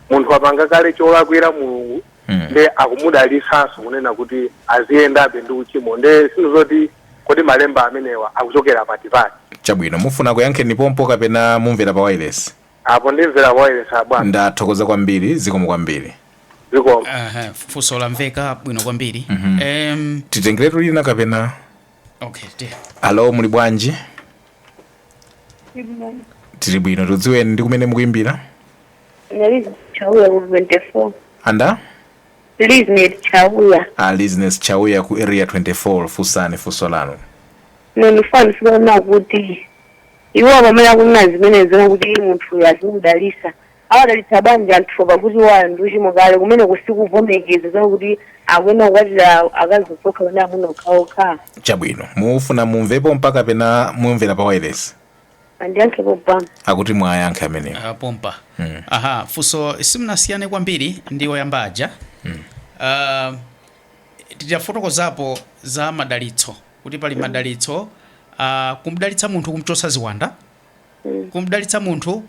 munthu wapanga kale cholakwira Mulungu Mm. nde akumudalisanso kunena kuti aziyendabe ndi uchimo nde sindidziwa zoti kodi malemba amenewa akuchokera pati pati Chabwino, mufuna kuyankheni pompo kapena mumvera pa wireless? Apo ndimvera wailesi abwana. Ndathokoza kwambiri, zikomo kwambiri. Zikomo. Aha, funso lamveka bwino kwambiri. Em, Titengeretu lina kapena? okay, ti. Alo, muli bwanji? Tili bwino, tikudziweni ndi kumene mukuimbira? Lizness Chauya ku 24. Andani? Lizness Chauya. A Lizness Chauya ku area 24 funsani funso lanu. Nonifanisikana kuti Iwo pamene akunena zimenezo nkuti munthuyo azimudalitsa, awadalitsa bwanji anthuwo pakuti iwo ali ndi uchimo kale, kumeneko sikuvomereza zonena kuti akuyenera kukwatira akazi okha okha kapena amuna okhaokha? Chabwino, mufuna mumve pompa kapena mumvera pa wailesi? Andiyankhe pompa. Akuti muwayankhe amenewo. Uh, pompa mm. Aha, funso simunasiyane kwambiri ndi oyamba aja mm. Uh, titafotokozapo za madalitso kuti pali madalitso a kumdalitsa munthu kumchotsa ziwanda Mm. kumdalitsa munthu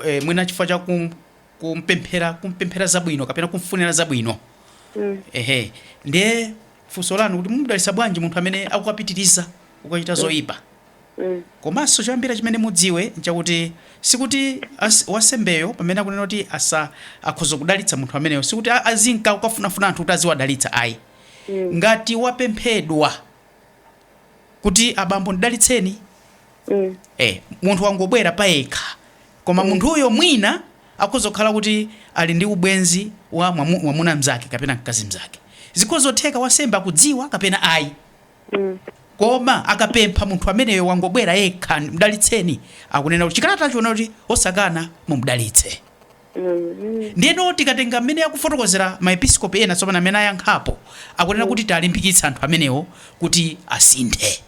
eh, mwina chifukwa cha kum, kumpemphera kumpemphera zabwino kapena kumfunira zabwino Mm. ehe ndiye funso lanu kuti mumdalitsa bwanji munthu amene akukapitiriza kukachita zoyipa Mm. komanso choyambira chimene mudziwe nchakuti sikuti as- wansembeyo pamene akunena kuti asa akhoza kudalitsa munthu ameneyo sikuti a- azinka kukafunafuna anthu kuti aziwadalitsa ayi Mm. ngati wapemphedwa kuti abambo ndidalitseni Mm. eh, munthu wangobwera payekha koma munthuyo mwina akhoza kukhala kuti ali ndi ubwenzi wa mwamu- mwamuna mzake kapena mkazi mzake zikhozotheka wansembe akudziwa kapena ayi Mm. koma akapempha munthu ameneyo wangobwera yekha mdalitseni akunena kuti chikalata chiona kuti osakana mumdalitse Ndiyeno tikatenga mmene akufotokozera maepiskopi ena tsopano amene ayankhapo, akunena kuti tiwalimbikitse anthu amenewo kuti asinthe.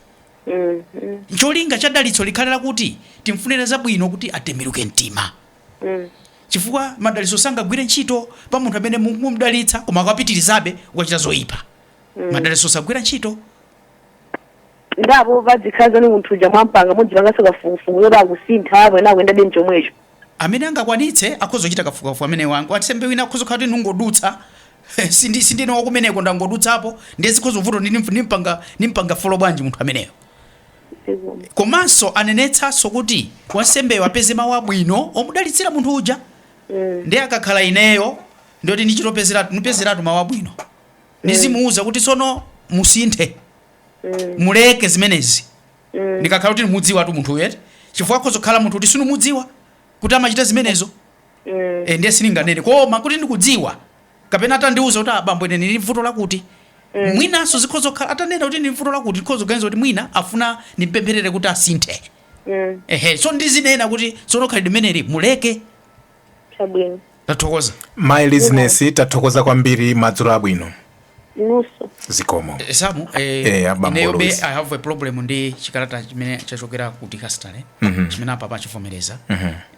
Cholinga cha dalitso likhale lakuti timfunire zabwino kuti atembenuke mtima. Chifukwa madalitso sangagwire ntchito pa munthu amene mukumdalitsa koma akupitirizabe kukachita zoipa. Madalitso sagwira ntchito. Ndipo apo padzikhala zoti munthu uja mwampanga mudzipanganso kafukufuku zoti akusintha kapena akuyendabe mchomwecho. Amene angakwanitse akhoza kuchita kafukufuku ameneyo. Wansembe wina akhoza kukhala kuti ndingodutsa, sindi sindine wakumeneko ndangodutsapo ndiye zikhoza kuvuta kuti ndimf- ndimpanga ndimpanga folo bwanji munthu ameneyo. zikomo Komanso anenetsanso kuti wansembeyo apeze mawu abwino omudalitsira munthu uja. Mm, Ndiye akakhala ineyo nditi ndichitopezeratu ndipezeratu mawu abwino. Ndizimuwuza kuti tsono musinthe mm, muleke zimenezi. Mm. ndikakhala kuti ndimudziwatu munthuyo eti chifukwa akhoza kukhala munthu kuti sindimudziwa kuti amachita zimenezo Mm. e, ndiye sindinganene koma kuti ndikudziwa kapena atandiuza kuti abambo ine ndili vuto lakuti mwinanso zikhoza kukhala atanena kuti ndili vuto lakuti ndikhoza kuganiza kuti mwina afuna ndimpempherere kuti asinthe Mm. ehe so ndidzanena kuti tsono khalidwe limeneli muleke Chabwino. tathokoza my listeners tathokoza kwambiri madzulo abwino Inunso. zikomo samu Eh, eh, abambo ineyo be Louis. i have a problem ndi chikalata chimene chachokera ku Dicastery chimene apapa achivomereza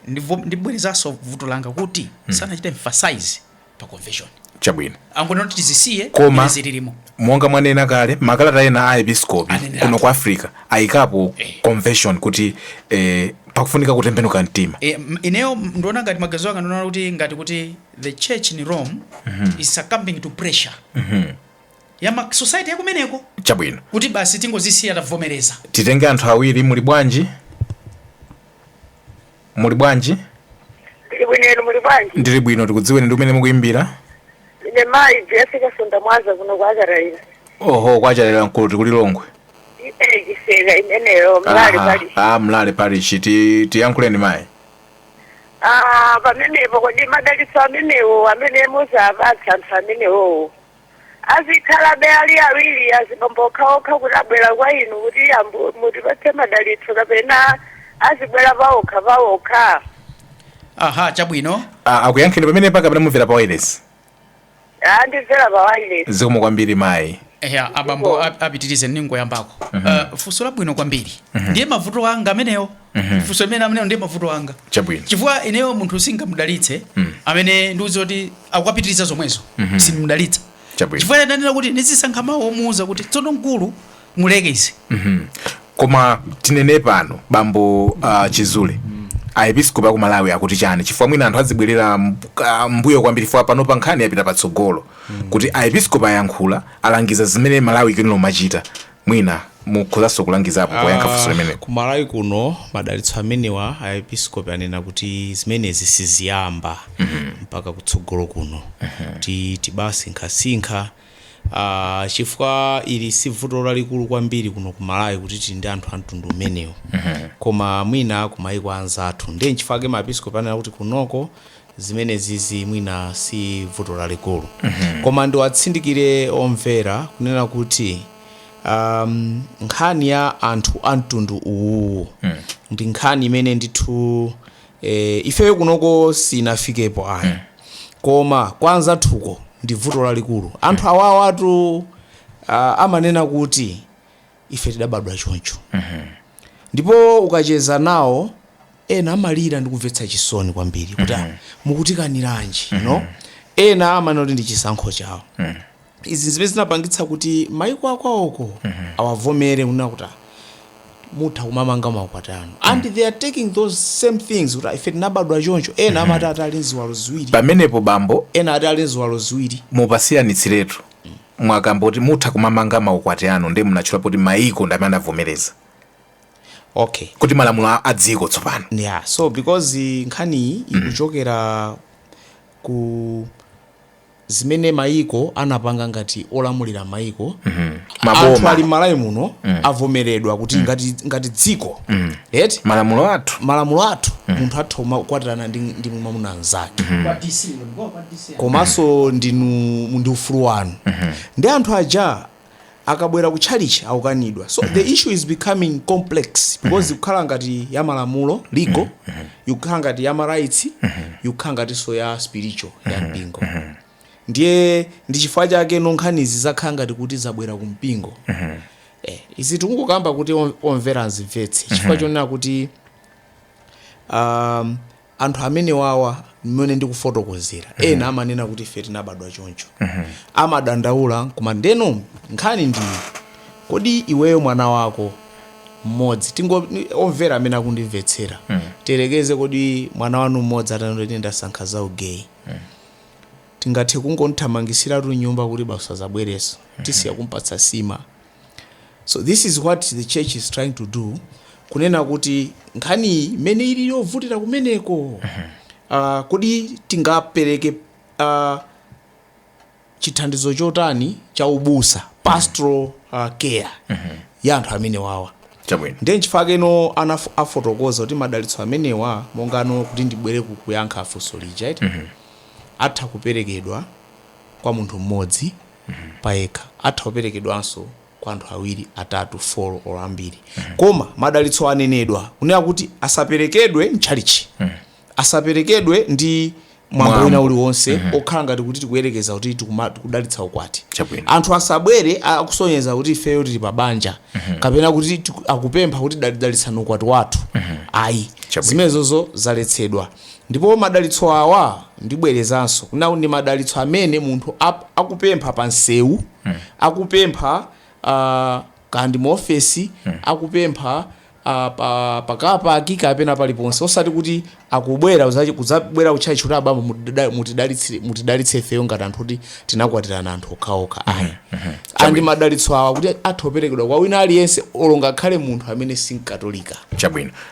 Ndivo- ndibwerezanso vuto langa kuti sanachite emphasize pa conversion chabwino angonena kuti tizisiye Koma- izi zilimo monga mwanena kale makalata ena a episkopi Anenera. kuno ku africa ayikapo Eh. conversion kuti eh, pakufunika kutembenuka mtima e, m- ineyo m- ndiona ngati maganizo anga ndiona kuti ngati kuti the church in rome is succumbing to pressure ya ma society yakumeneko chabwino kuti basi tingozisiya tavomereza titenge anthu awiri muli bwanji muli bwanji Ndili bwino inu muli bwanji? ndili bwino tikudziweni ndi kumene mukuyimbira Ine mayi Jesse Kasonda Mwaza kuno kwa Kachilira. oho kwa Kachilira nkuti ku Lilongwe Iye chiseka imeneyo mlale Aha, pali. ah, mlale parish tiyankhuleni mayi Ah, pamenepo kodi madalitso amenewo amene muziwapatsa anthu amenewowo. azikhalabe ali awiri azibambo okhaokha kuti abwera kwa inu kuti abambo mutipatse madalitso kapena azibwera paokha paokha aha chabwino Ah, akuyankheni pamenepa kapena mumvera pa wireless ndimvera pa wireless zikomo kwambiri mayi eya abambo ap- apitirize ningoyambako uh, funso labwino kwambiri ndiye mavuto anga amenewo funso limene amenewo ndiye mavuto anga Chabwino. chifukwa ineyo munthu singamdalitse amene wandiuza kuti akukapitiriza zomwezo simdalitsa Chabwino. chifukwa ndanena kuti ndizisankha mawu omuuza kuti tsono mkulu muleke izi koma tinene pano bambo uh, nchizule aepiskopi aku malawi akuti chani chifukwa mwina anthu azibwerera mb- ah, mbuyo kwambiri chifukwa panopa nkhani yapita patsogolo kuti aepiskopi ayankhula alangiza zimene malawi ikuyenera kumachita Mwina mukhozanso kulangizapo poyankha funso limenelo. Ku Malawi kuno madalitso amenewa a episkopi anena kuti zimenezi siziyamba mpaka kutsogolo kuno kuti tibasinkhasinkha chifukwa ili si vuto lalikulu kwambiri kuno ku Malawi kuti tili ndi anthu a mtundu umenewu koma mwina kumayiko a anzathu ndiye n'chifukwa chake maepiskopi anena kuti kunoko zimenezizi mwina si vuto lalikulu koma ndiwatsindikire omvera kunena kuti um, nkhani ya anthu a mtundu uwu ndi nkhani imene ndithu eh, ifeyo kunoko sinafikepo ayi koma kwa anzathuko ndi vuto lalikulu anthu awawatu uh, amanena kuti ife tidabadwa choncho ndipo ukacheza nawo ena amalira ndi kumvetsa chisoni kwambiri kuti ah, mukutikaniranji, you know? ena amanena kuti ndi chisankho chawo izi zimene zinapangitsa kuti maiko akwawoko awavomere kunena kuti ah, mutha kumamanga makwati anu and they are taking those same things kuti ah, ife tinabadwa choncho ena amati ati ali ndi ziwalo ziwiri pamenepo bambo ena ati ali ndi ziwalo ziwiri mupasiyanitsiretu mwakamba kuti mutha kumamanga maukwati anu nde munatchula poti maiko ndamene anavomereza okay kuti malamulo a- a dziko tsopano yeah so because eh, nkhaniyi ikuchokera ku zimene maiko anapanga ngati olamulira maiko Maboma. athu a Malawi muno avomeredwa kuti ngati, ngati dziko eti malamulo athu malamulo athu munthu atha kumakwatirana ndi, ndi mwamuna mnzake Kwa DC, ulikuwa kwa DC. komanso ndinu ndi ufulu wanu nde anthu aja akabwera ku tchalitchi akukanidwa so the issue is becoming complex because ikukhala ngati ya malamulo legal ikukhala ngati ya marights ikukhala ngatinso ya spiritual ya mpingo ndiye ndi chifukwa chake nkhanizi zakhala ngati kuti zabwera ku mpingo eh, izi tikukamba kuti om- omvera azimvetse chifukwa chonena kuti um, anthu amenewawa mmene ndikufotokozera mm -hmm. ena amanena kuti ife tinabadwa choncho mm -hmm. amadandaula koma ndeno nkhani ndi iyi kodi iweyo mwana wako mmodzi tingo omvera amene akundimvetsera mm -hmm. tiyerekeze kodi mwana wanu mmodzi atanena kuti ndasankha za ugeyi mm -hmm. tingathe kungomthamangitsiratu mnyumba kuti basi asazabwereso mm -hmm. tisiya kumpatsa sima So this is what the church is trying to do kunena kuti nkhaniyi imene ili yovutira kumeneko uh, kodi tingapereke uh, chithandizo chotani cha ubusa pastoral uh, care ya anthu amene wawa chabwino ndiye nchifukwa chakeno anaf- afotokoza kuti madalitso amenewa monga kunena kuti ndibwere ku- kuyankha funso lija eti atha kuperekedwa kwa munthu mmodzi payekha. Atha kuperekedwanso kwa anthu awiri, atatu, folo olo ambiri. Koma madalitsowa anenedwa kunena kuti asaperekedwe m'tchalitchi. Asaperekedwe ndi mwambo wina Mwambo. uliwonse wokhala ngati kuti tikuyerekeza kuti tikuma- tikudalitsa ukwati. Chabwino. Anthu asabwere a- akusonyeza kuti ifeyo tili pa banja kapena kuti tiku- akupempha kuti dali- dalitsani ukwati wathu. Ayi. Chabwino. Zimenezozo zaletsedwa. Ndipo madalitso awa, ndibwerezanso, kuna, ndi madalitso amene munthu a, akupempha pa msewu, akupempha a, kaya ndi mu ofesi, akupempha a, pa, pa car park kapena paliponse. Osati kuti akubwera, kudza- kudzabwera kutchalitchi kuti abambo mutida- mutidalitsire- mutidalitse ifeyo ngati anthu oti tinakwatirana anthu okhaokha. Ayi. Chabwino. Ndi madalitso awa oti atha kuperekedwa kwa wina aliyense, olo ngakhale munthu amene si Mkatolika. Chabwino.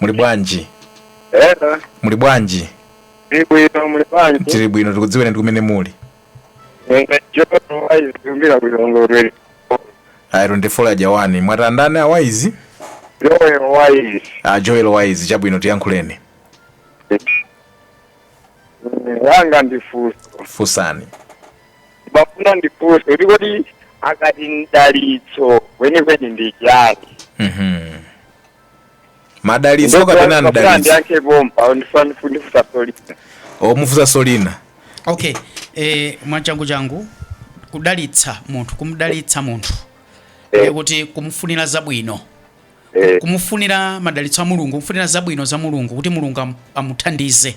muli bwanji Ena, muli bwanji ndi bwino muli bwanji? tili bwino tikudziweni ndi kumene muli Ine Jono Waizi kumbira kulongolera. ayi a ndani mwati ndani awaizi Joel Waizi. a joel waizi chabwino tiyankhuleni Wanga ndifunso. fusani Ndimafuna ndifunse kuti kodi akati mdalitso kwenikweni ndi chani? mhm madalitso kapena mdalitso ndiyankhe pompa ndifunse funso lina mufunse funso lina okay eh, mwachangu changu kudalitsa munthu kumdalitsa munthu Eh. eh. kuti kumufunira zabwino Eh, kumufunira madalitso a mulungu kumufunira zabwino za mulungu kuti mulungu am- amuthandize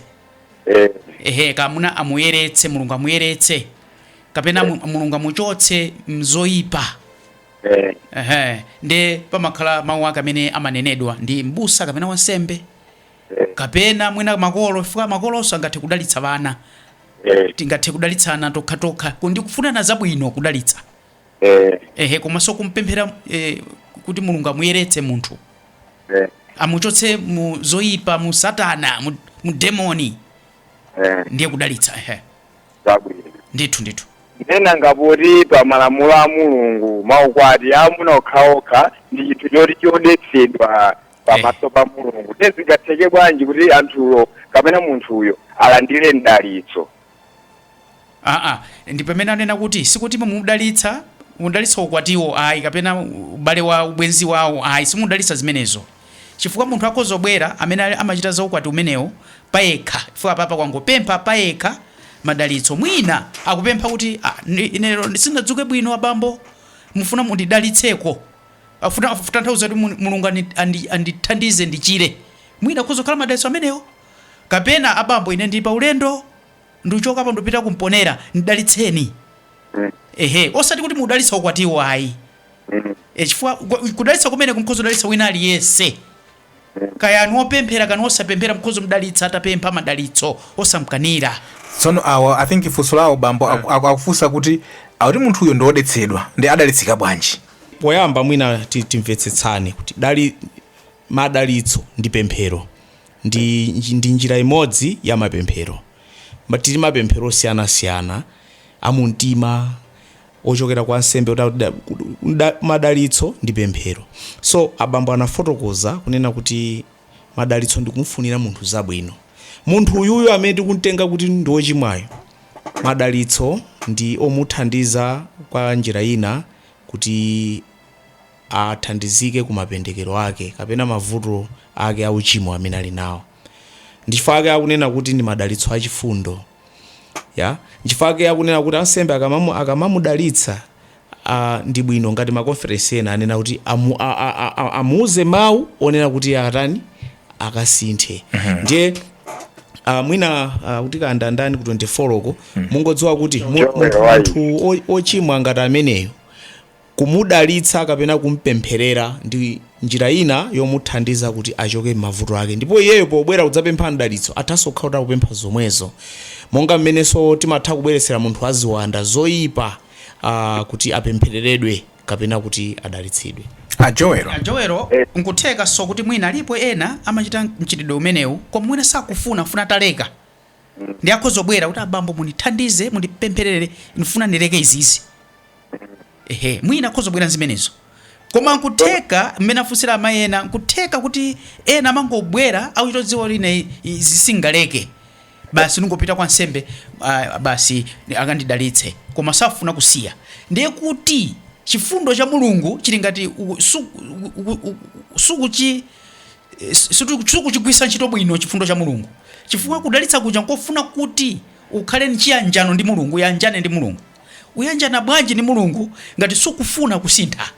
eh, ehe kamuna amuyeretse mulungu amuyeretse kapena mu- mulungu amuchotse mzoyipa eh, ehe nde pamakhala mawu ake amene amanenedwa ndi mbusa kapena wansembe eh, kapena mwina makolo chifukwa makolonso angathe kudalitsa ana eh, tingathe kudalitsana tokhatokha kuti kufunirana zabwino kudalitsa eh, ehe komanso kumpempherera eh, kuti mulungu amuyeretse munthu eh, amuchotse mu zoyipa mu satana mu, mu demoni eh. ndiye kudalitsa ehe zabwino. Ndithu, ndithu. Ndiye nanga poti pa malamulo a Mulungu maukwati a amuna okhaokha ndi chinthu choti chodetsedwa pamaso pa Mulungu. Ndiye zingatheke bwanji kuti anthuwo kapena munthuyo alandire mdalitso? aa ndi pamene ndinena kuti sikuti mukudalitsa mudalitsa ukwatiwo ayi kapena ubale wa ubwenzi wawo ayi simudalitsa zimenezo chifukwa munthu akhoza kubwera amene ali amachita za ukwati umenewo payekha chifukwa apapa wangopempha payekha madalitso mwina akupempha kuti ah, ine lero sindinadzuke bwino abambo ndifuna mundidalitseko afuna kutanthauza kuti Mul- mulungu andi- andi- andithandize ndichire mwina akhoza kukhala madalitso amenewo kapena abambo ine ndili pa ulendo ndichokapo ndipita ku Mponela ndidalitseni ehe osati kuti mudalitsa ukwatiwo ayi E, chifukwa ku- kudalitsa kumeneku nkhoza kudalitsa wina aliyense kaya ndi wopemphera kapena osapemphera nkhoza kumdalitsa atapempha madalitso osamkanira tsono awa i think funso lawo bambo aku- aku- akufunsa kuti akuti munthuyo ndi wodetsedwa ndiye adalitsika bwanji poyamba mwina ti- timvetsetsane kuti dali madalitso ndi pemphero ndi, nji- ndi njira imodzi ya mapemphero Ma- tili ndi mapemphero osiyanasiyana amumtima ochokera kwa ansembe kuti akuti da, ku- da, madalitso ndi pemphero so abambo anafotokoza kunena kuti madalitso ndi kumfunira munthu zabwino munthu uyuyo amene tikumtenga kuti ndi wochimwayo madalitso ndi omuthandiza kwa njira ina kuti athandizike ku mapendekero ake kapena mavuto ake auchimo amene ali nawo ndichifukwa ake akunena kuti ndi madalitso achifundo Ya, nchifukwa chake akunena kuti ansembe akamamu akamamudalitsa a ndi bwino ngati makonferensi ina anena kuti amu, a, a, a, a, amuuze mawu onena kuti akatani akasinthe ndiye uh, mwina uh, kuti kaya ndani ku 24 uko mungodziwa kuti mu- Njombe, munthu why? munthu o- ochimwa ngati ameneyo Kumudalitsa kapena kum'pempherera ndi njira ina yomuthandiza kuti achoke m'mavuto ake. Ndipo iyeyo pobwera kudzapempha mdalitso, athanso kukhala kuti akupempha zomwezo. Monga mmenenso timatha kubweretsera munthu wa ziwanda zoipa kuti apemphereredwe kapena kuti adalitsidwe. A Joel, n'kuthekanso kuti mwina alipo ena amachita mchitidwe umenewu koma mwina sakufuna, afuna ataleka. ndiye akhoza kubwera kuti abambo mundithandize mundipempherere ndifuna ndileke izizi ehe mwina akhoza kubwera nzimenezo koma nkutheka mmene afunsira amayi ena nkutheka kuti ena amangobwera akuchita kudziwa kuti ine izi sindingaleke basi ndingopita kwa ansembe ah, basi akandidalitse koma safuna kusiya ndiye kuti chifundo cha mulungu chili ngati u- su- u- u- u- sukuchi sukuchigwiritsa ntchito bwino chifundo cha mulungu chifukwa kudalitsa kuja nkofuna kuti ukhale ndi chiyanjano ndi mulungu uyanjane ndi mulungu uyanjana bwanji ndi mulungu ngati sukufuna kusintha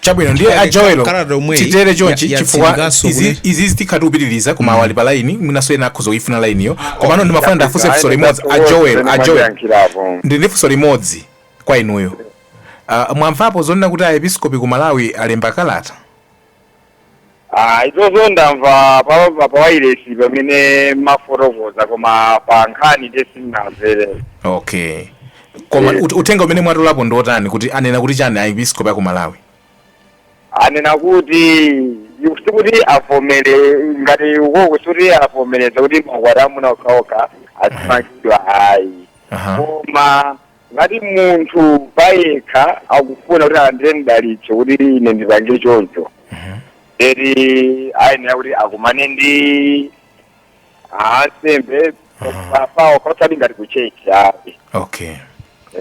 chabwino ndiye Chifukwa a Joel kalata omwe titere ya chonchi chifukwa yatsindikanso izi- kuti- izi zitikhala upitiriza koma awa ali pa laini mwinanso ena akhoza kuifuna lainiyo komano ndimafuna ndiwafunse funso limodzi a Joel a Joel ndili ndi funso limodzi kwa inuyo. Uh, mwamvapo zonena kuti aepiskopi ku Malawi alemba kalata? Ah, izozo ndamva pa pa pawailesi pamene mumafotokoza koma pa nkhani nde sindinamvere. Okay. Koma Eh. ut- uthenga umene mwatolapo ndi wotani kuti anena kuti chani aepiskopi a ku Malawi? Anena kuti sikuti avomere ngati ukoko sikuti avomereza kuti maukwati amuna okhaokha azimangidwa ayi. Aha. Koma Ngati munthu payekha akufuna kuti alandire mdalitso kuti ine ndipange choncho eti ayenera kuti akumane ndi ansembe pa- pawokha osati ngati kutchetchi ayi okay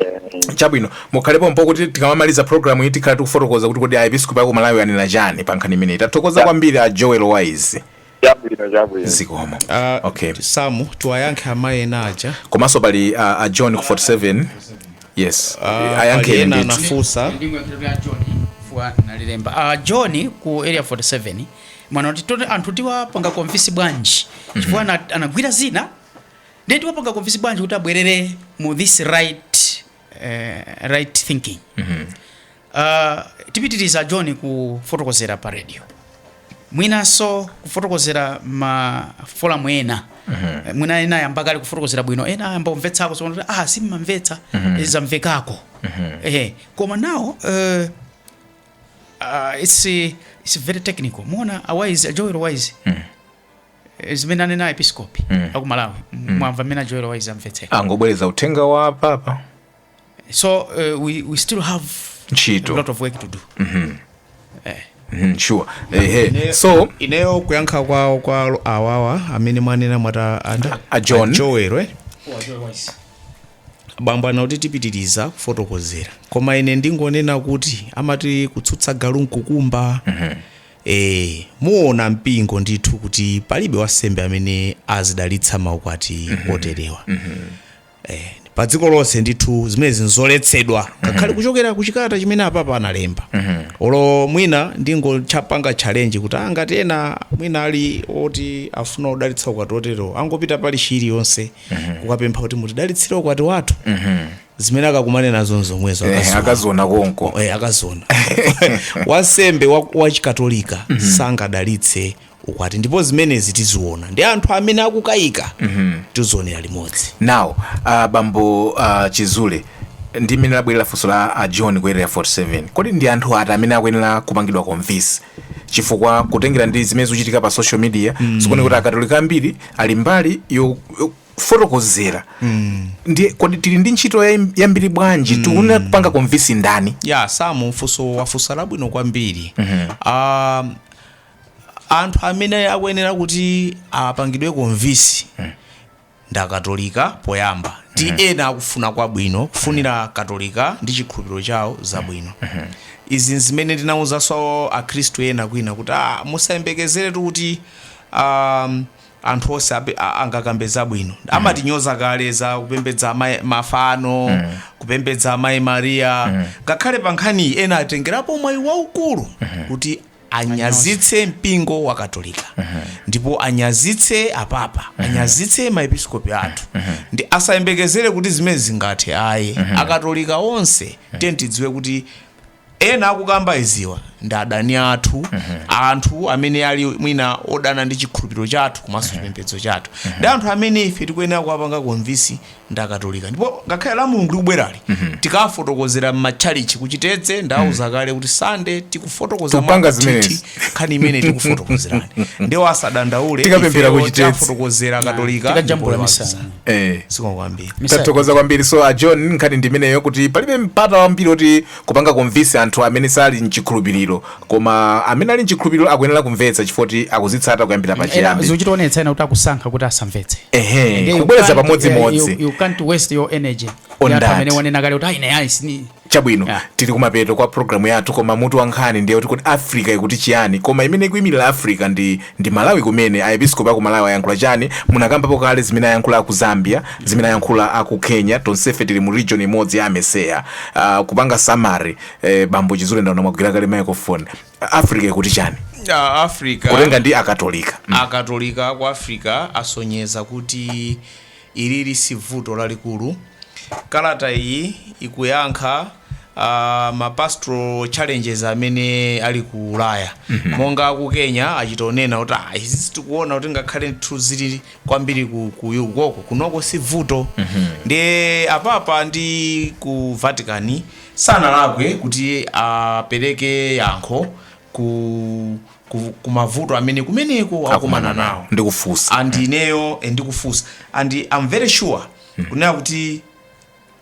Eh, chabwino mukhale pompo kuti tikamamaliza programu iyi tikhala tikufotokoza kuti kodi aepiskopi a ku malawi anena chani pa nkhani imeneyi tathokoza kwambiri a joel wise chabwino chabwino zikomo Ah, okay samu tiwayankhe amayi ena aja komanso pali a, a john ku 47 yes Ah, pali ayankheni ena ndithu anafunsa nalilemba ah, john ku area 47 mwanena kuti toti anthu tiwapanga konfisi bwanji chifukwa ana- anagwira zina ndiye tiwapanga convince bwanji kuti abwerere mu this right eh, right thinking uh, tipitiriza a john kufotokozera pa radio mwinanso kufotokozera ma forum ena Eh, mwina ena ayamba kale kufotokozera bwino ena ayamba kumvetsako so kuti, ah simmamvetsa eh, zamvekako eh, koma nawo eh, uh, it's, eh, it's very technical muona a wise a joel wise Eh, zimene anena episkopi mm. a ku malawi mm. mwamva mmene a joel wise amvetsera angobwereza uthenga wa papa so uh, we, we still have ntchito a lot of work to do mm -hmm. eh. Mm -hmm, sure. Hey, eh, hey. So ineyo kuyankha kwa kwa awawa amene mwanena mwati ndani a John Joel eh? bambo anena kuti tipitiriza kufotokozera koma ine ndingonena kuti amati kutsutsa galu nkukumba mm -hmm. Eee muona mpingo ndithu kuti palibe wansembe amene azidalitsa maukwati oterewa Eh, pa dziko lonse ndithu zimenezi nzoletsedwa ngakhale kuchokera ku chikalata chimene apapa analemba olo mwina ndingowapanga challenge kuti ah, ngati ena mwina ali oti afuna kudalitsa ukwati oterewo angopita parishi iliyonse kukapempha kuti mutidalitsire ukwati wathu zimene akakumane nazo nzomwezo Eh, akaziona. akaziona konko Eh, akaziona wansembe wa- wachikatolika sangadalitse ukwati ndipo zimenezi tiziona ndi anthu amene akukayika tizionera limodzi now uh, bambo uh, chizule ndi mmene labwerera funso la uh, john ku area 47 kodi ndi anthu ati amene akuyenera kupangidwa convince chifukwa kutengera ndi zimene zikuchitika pa social media mm. zikuoneka kuti akatolika ambiri ali mbali yo- yo- kufotokozera mm. ndiye kodi tili ndi ntchito yambiri bwanji mm. tikunena kupanga convince ndani ya yeah, samu funso wafunsa labwino kwambiri mm -hmm. um, anthu amene akuyenera kuti apangidwe convince mm. ndakatolika poyamba ndi mm -hmm. ena akufuna kwabwino kufunira katolika ndi chikhulupiriro chawo zabwino mm -hmm. izi nzimene ndinawuzanso akhristu ena kwina kuti ah, musayembekezeretu kuti um, anthu onse ape- a- angakambe zabwino amatinyoza kale za kupembedza amayi- mafano kupembedza amayi mariya ngakhale pa nkhani iyi ena atengerapo mwayi waukulu kuti anyazitse mpingo wa katolika ndipo anyazitse apapa anyazitse maepiskopi athu ndiye asayembekezere kuti zimene zingathe ayi akatolika onse tiyeni tidziwe kuti ena akukamba iziwa ndi adani athu anthu amene ali mwina odana ndi chikhulupiriro chathu komanso chipembedzo chathu ndi anthu amene ife tikuyenera kuwapanga konvinsi ndi akatolika ndipo ngakhale Lamulungu likubwerali tikafotokozera m'matchalichi ku Chitedze ndauza kale kuti sande tikufotokoza Tupanga mwakathithi zimenezi. nkhani imene tikufotokozerani ndiye iwo asadandaule Tikapemphera ifeyo ku Chitedze. tafotokozera akatolika Tikajambula ndipo misa. waziza. eh. zikomo kwambiri Misa- tathokoza kwambiri so a john nkhani ndi imeneyo kuti palibe mpata wambiri oti kupanga konvinsi anthu amene sali mchikhulupiriro koma amene ali mchikhulupiriro akuyenera kumvetsa chifukwa choti akuzitsata kuyambira Ena pachiyambi zikuchitaonetsa ena kuti akusankha kuti asamvetse ehe Nde you kubwereza can't- pamodzimodzi eh, you- you can't waste your energy On Ya anthu that. amene wanena kale kuti ayi naye ayi sini Chabwino, Yeah. tili kumapeto kwa programu yathu koma mutu wa nkhani ndiye kuti kodi africa ikuti chiyani koma imene ikuyimirira africa ndi, ndi malawi kumene aepiskopi aku malawi ayankhula chani munakambapo kale zimene ayankhula aku zambia zimene ayankhula aku kenya tonsefe tili mu region imodzi ya AMECEA uh, kupanga summary eh, bambo chizule ndaona mwagwira kale microphone africa ikuti chani Ah, africa kutenga ndi akatolika akatolika ku africa asonyeza kuti Ilili sivuto lalikulu. Kalata iyi ikuyankha ma pastoral challenges amene ali ku ulaya mm -hmm. monga aku kenya achita onena kuti ah, izi sitikuona kuti ngakhale ndithu zili kwambiri ku, ku ukoko kunoko si vuto mm -hmm. ndiye apapa ndi ku vatican sanalakwe kuti apereke yankho ku, ku, ku mavuto amene kumeneko akumana akumana nawo nawo ndikufunsa and ineyo eh, ndikufunsa and i'm very sure kunena kuti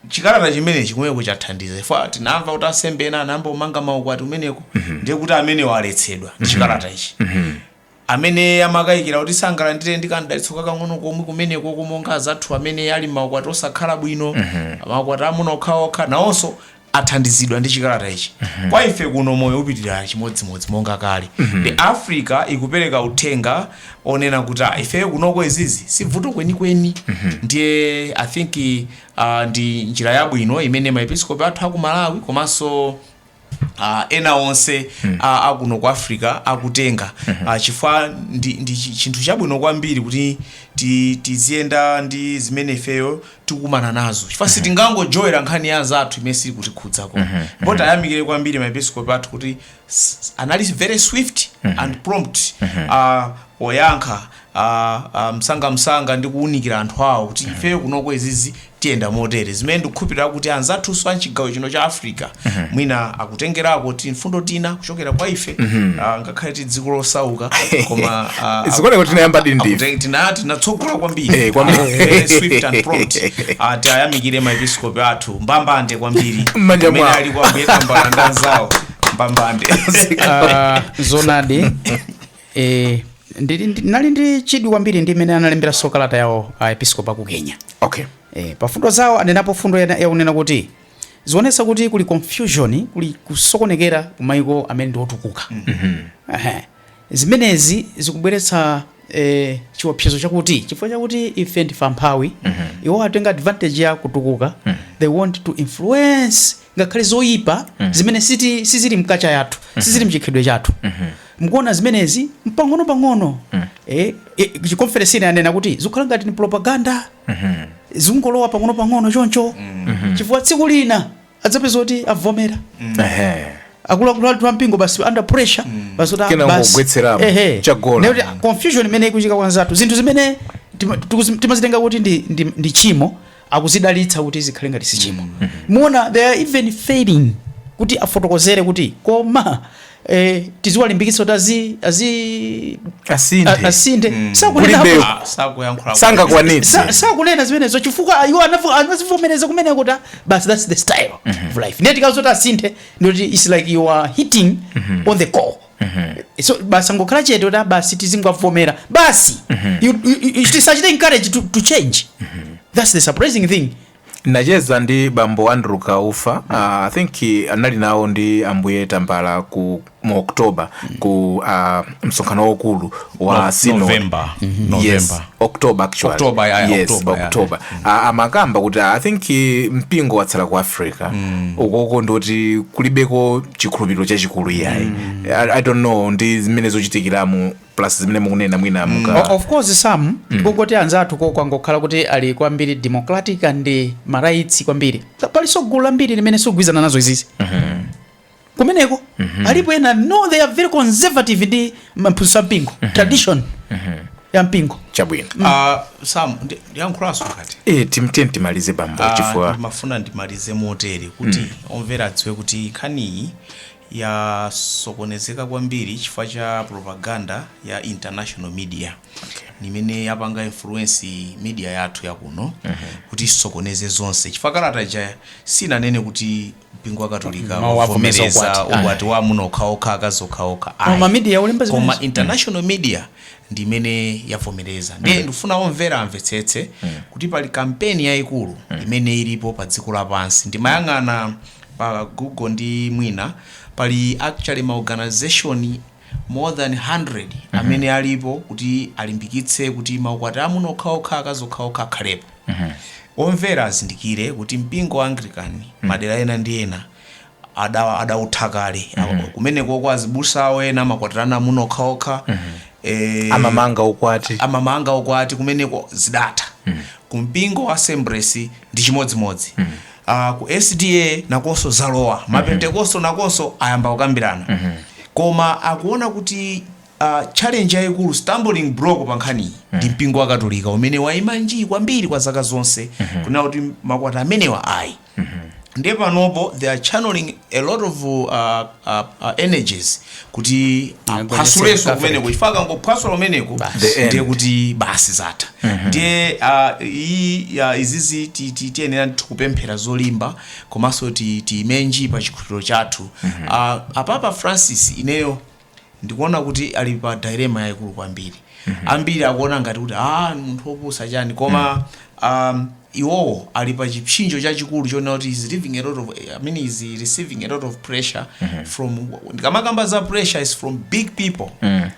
chikalata chimenechi kumeneko chathandiza ife tinamva kuti ansembe ena anayamba kumanga maukwati kumeneko ndiye kuti amenewo aletsedwa ndi chikalata ichi Amene amakayikira kuti sangalandire ndi kam'dalitso kakang'ono komwe kumenekoko, monga azathu amene ali m'maukwati osakhala bwino, maukwati a amuna okhaokha, nawonso athandizidwa ndi chikalata ichi. Kwa ife kuno moyo upitilira chimodzimodzi monga kale. Nde Africa ikupereka uthenga onena kuti ah, ifeyo kunoko izizi si bvuto kwenikweni. Ndiye I think ah, ndi njira yabwino imene maepiskopi athu a ku Malawi komanso Uh, ena onse mm. uh, akuno ku africa akutenga mm -hmm. uh, chifukwa ndi, ndi chi- chinthu chabwino kwambiri kuti ti- tiziyenda ndi zimene ifeyo tikukumana nazo chifukwa sitingangolowera nkhani ya anzathu imene siili kutikhudzako ndipo tayamikire kwambiri maepiskopi athu kuti s- anali very swift and prompt uh, poyankha uh, uh, msangamsanga ndi kuwunikira anthu awo kuti ifeyo kunoko izi zizi tiyenda motere zimene ndikukhulupirira kuti anzathunso amchigawo chino cha africa mwina akutengerako ti mfundo tina kuchokera kwa ife ah, ngakhale ti dziko losauka koma ah, Zikuoneka kuti tinayamba ndithu. akute- tina- tinatsogola kwambiri Eh, kwambiri. Ah, very swift and prompt. Ah, tiyayamikire maepisikopi athu mbambande kwambiri M'manja Amene mwawo. ali kwambiri Tambala ndi anzawo mbambande Ah, zonadi Eh, ndili ndi- ndinali ndi chidwi kwambiri ndi imene analemberanso kalata yawo aepiskopi aku kenya okay eh, pa mfundo zawo anenapo mfundo yana- yakunena kuti zionetsa kuti kuli confusion kuli kusokonekera ku maiko amene ndi otukuka Ehe. zimenezi zikubweretsa eh, chiopsezo chakuti chifukwa chakuti ife ndife amphawi iwo atenga advantage ya kutukuka they want to influence ngakhale zoyipa zimene siti- sizili mu culture yathu sizili mchikhalidwe chathu Mukuona zimenezi mpang'onopang'ono eh, eh, chikonferensi china anena kuti zikukhala ngati ni propaganda zikungolowa pang'onopang'ono choncho chifukwa tsiku lina tidzapeza kuti avomera Ehe. akuluakulu athu ampingo basi under pressure basi kuti ah, Kena basi. kungogwetseramo, Ehe. chagona. Ndiye kuti, ah, confusion imene ikuchitika kwanzathu zinthu zimene tima- tikuzi- timazitenga kuti ndi, ndi, ndi tchimo akuzidalitsa kuti zikhale ngati si tchimo mukuona they are even failing kuti afotokozere kuti koma eh, tiziwalimbikitsa kuti azi, azi Asinthe. a- asinthe Mm. sakunena Kulibe- Ah, sakuyankhula sangakwanitse sa- sakunena zimenezo chifukwa iwo anavu- anazivomereza kumene kuti ah, basi that's the style of life ndiye tikamati asinthe ndiye kuti it's like you are hitting on the core so basi angokhala chete kuti ah basi tizingowavomera basi You- you- you- tisawachite encourage to, to change that's the surprising thing nacheza ndi bambo andrew kaufa uh, i think eh, anali nawo ndi ambuye tambala ku mu oktoba ku uh, msonkhano waukulu wa No- synod. November. Yes, November. October actually. October, yeah, yeah, yes, October, yeah. October. A- amakamba kuti i think eh, mpingo watsala ku africa ukoko ndoti kulibeko chikhulupiriro chachikulu iyayi I, i don't know ndi zimene zikuchitikiramo plus zimene mukunena mwina muka O- of course sam kungoti anzathuko kwangokhala kuti ali kwambiri democratic and ma rights kwambiri palinso gulu lambiri limene sikugwirizana nazo izizi kumeneko mm -hmm. alipo ena no they are very conservative ndi maphunzitso a mpingo mm -hmm. tradition mm -hmm. ya mpingo chabwino mm. uh, sam ndiyankhulanso kuti e, eh, tinene timalize bambo uh, chifukwa ndimafuna ndimalize motere kuti mm. omvera adziwe kuti nkhaniyi yasokonezeka kwambiri chifukwa cha propaganda ya international media okay. imene yapanga influence media yathu yakuno mm -hmm. kuti isokoneze zonse chifukwa kalata ija sinanene kuti mpingo wa katolika wavomereza ukwati wa amuna okhaokha akazi okhaokha koma international media ndi imene yavomereza ndiye ndikufuna omvera amvetsetse kuti pali kampeni yayikulu imene ilipo pa dziko lapansi ndimayang'ana pa google ndi mwina pali actually ma organization more than 100 amene alipo kuti alimbikitse kuti maukwati amuna okhaokha akazi okhaokha akhalepo omvera azindikire kuti mpingo wa anglican madera ena ndi ena ada- adautha kale kumenekoko azibusa awo ena amakwatirana amuna okhaokha eh, amamanga ukwati amamanga ukwati kumeneko zidatha kumpingo wa assemblies ndi chimodzimodzi a ku sda nakonso zalowa mapentekosto nakonso ayamba kukambirana koma akuona kuti uh, challenge yayikulu stumbling block pa nkhaniyi ndi mpingo wa katolika umene wayima njii kwambiri kwa zaka zonse kunena kuti maukwati amenewa ayi ndiye panopo they are channeling a lot of uh, a, a energies kuti aphwasulenso kumeneko chifukwa akangophwasula kumeneko ndiye kuti basi zatha ndiye ah, iyi ah, izizi ti- ti- tiyenera ndithu kupemphera zolimba komanso ti- tiime nji pa chikhulupiriro chathu Ah, apapa francis ineyo ndikuona kuti ali pa dilemma yaikulu kwambiri ambiri akuona ngati kuti a munthu wopusa chani koma um, iwowo ali pa chipsinjo chachikulu chonena kuti he is living a lot of, I mean, he is receiving a lot of pressure from ndikamakamba za pressure is from big people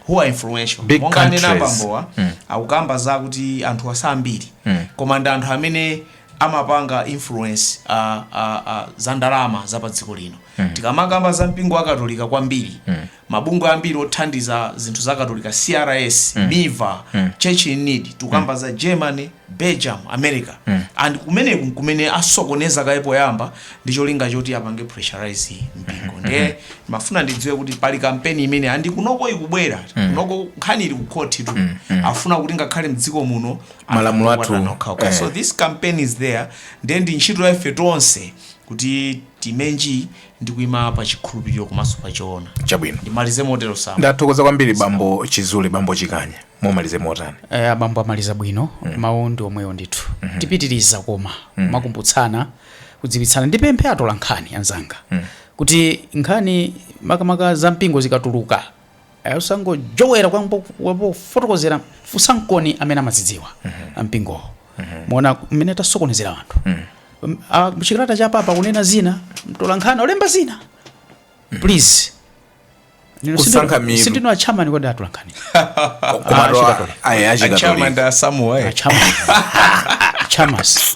who are influential monga anena abambowa akukamba zakuti anthu wosati ambiri koma ndi anthu amene amapanga influence a, a, a, za ndalama za pa dziko lino mm. tikamakamba za mpingo wa katolika kwambiri mm. mabungwe ambiri othandiza zinthu za katolika crs mm. miva mm. church in need tikukamba mm. za germany belgium america mm. and kumeneku nkumene asokoneza kaye poyamba ndi cholinga choti apange pressurize mpingo ndiye ndimafuna tidziwe kuti pali kampeni imene and kunoko ikubwera kunoko nkhani ili kukhotitu afuna kuti ngakhale mdziko muno malamulo athu a amuna okha okay so eh. this campaign is there ndiye ndi ntchito ya ife tonse kuti tiime nji ndi kuima pa chikhulupiriro komanso pa choona chabwino ndimalize motero ndathokoza kwambiri bambo chizule bambo chikanya mumalize motani abambo amaliza bwino mawu ndi omwewo ndithu tipitiriza koma kumakumbutsana kudziwitsana ndipemphe atola nkhani anzanga kuti nkhani makamaka za mpingo zikatuluka Eh, osangojowera kwambo- kwambo kufotokozera funsaniko amene amazidziwa ampingowo mwaona mmene tasokonezera anthu m'chikalata cha papa kunena zina mtolankhani walemba zina please Nino Kusankha sindino- mitu. sindino achamani kodi atolankhani komatu achikatolika. ayi achikatolika Achama ndi asamuwa, eh. achamas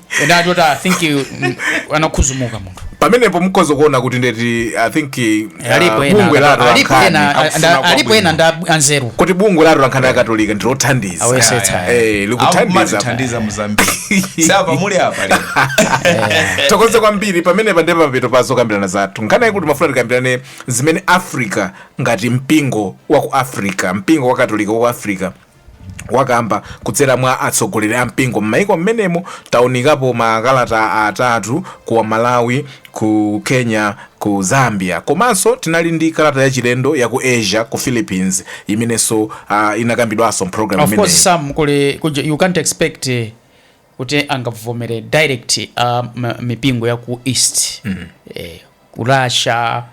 ena achoti i think you- mm, anakhuzumuka munthu pamenepo mukhoza kuona kuti ndi kuti i think uh, alipo ena bungwe la akatolika. Alipo atolankhani ena- akufuna anda- alipo kwabwino. ena nda anzeru kuti bungwe la atolankhani akatolika ndilothandiza Ayesetsa. Eh, likuthandiza akumatithandiza muzambiri sapa muli apa lero tithokoze kwambiri pamenepa ndi pa mapeto pa zokambirana zathu nkhani yakuti timafuna tikambirane zimene africa ngati mpingo wa ku africa mpingo wa katolika wa ku africa wakamba kudzera mwa atsogoleri a mpingo m'maiko m'menemo taunikapo makalata atatu ku malawi ku kenya ku zambia komanso tinali ndi kalata yachilendo ya ku asia ku philippines imenenso, uh, inakambidwanso mpulogalamu of course imeneyi sam kuli kuja- you can't expect eh, kuti angavomere direct um, mipingo ya ku east mm. eh, ku russia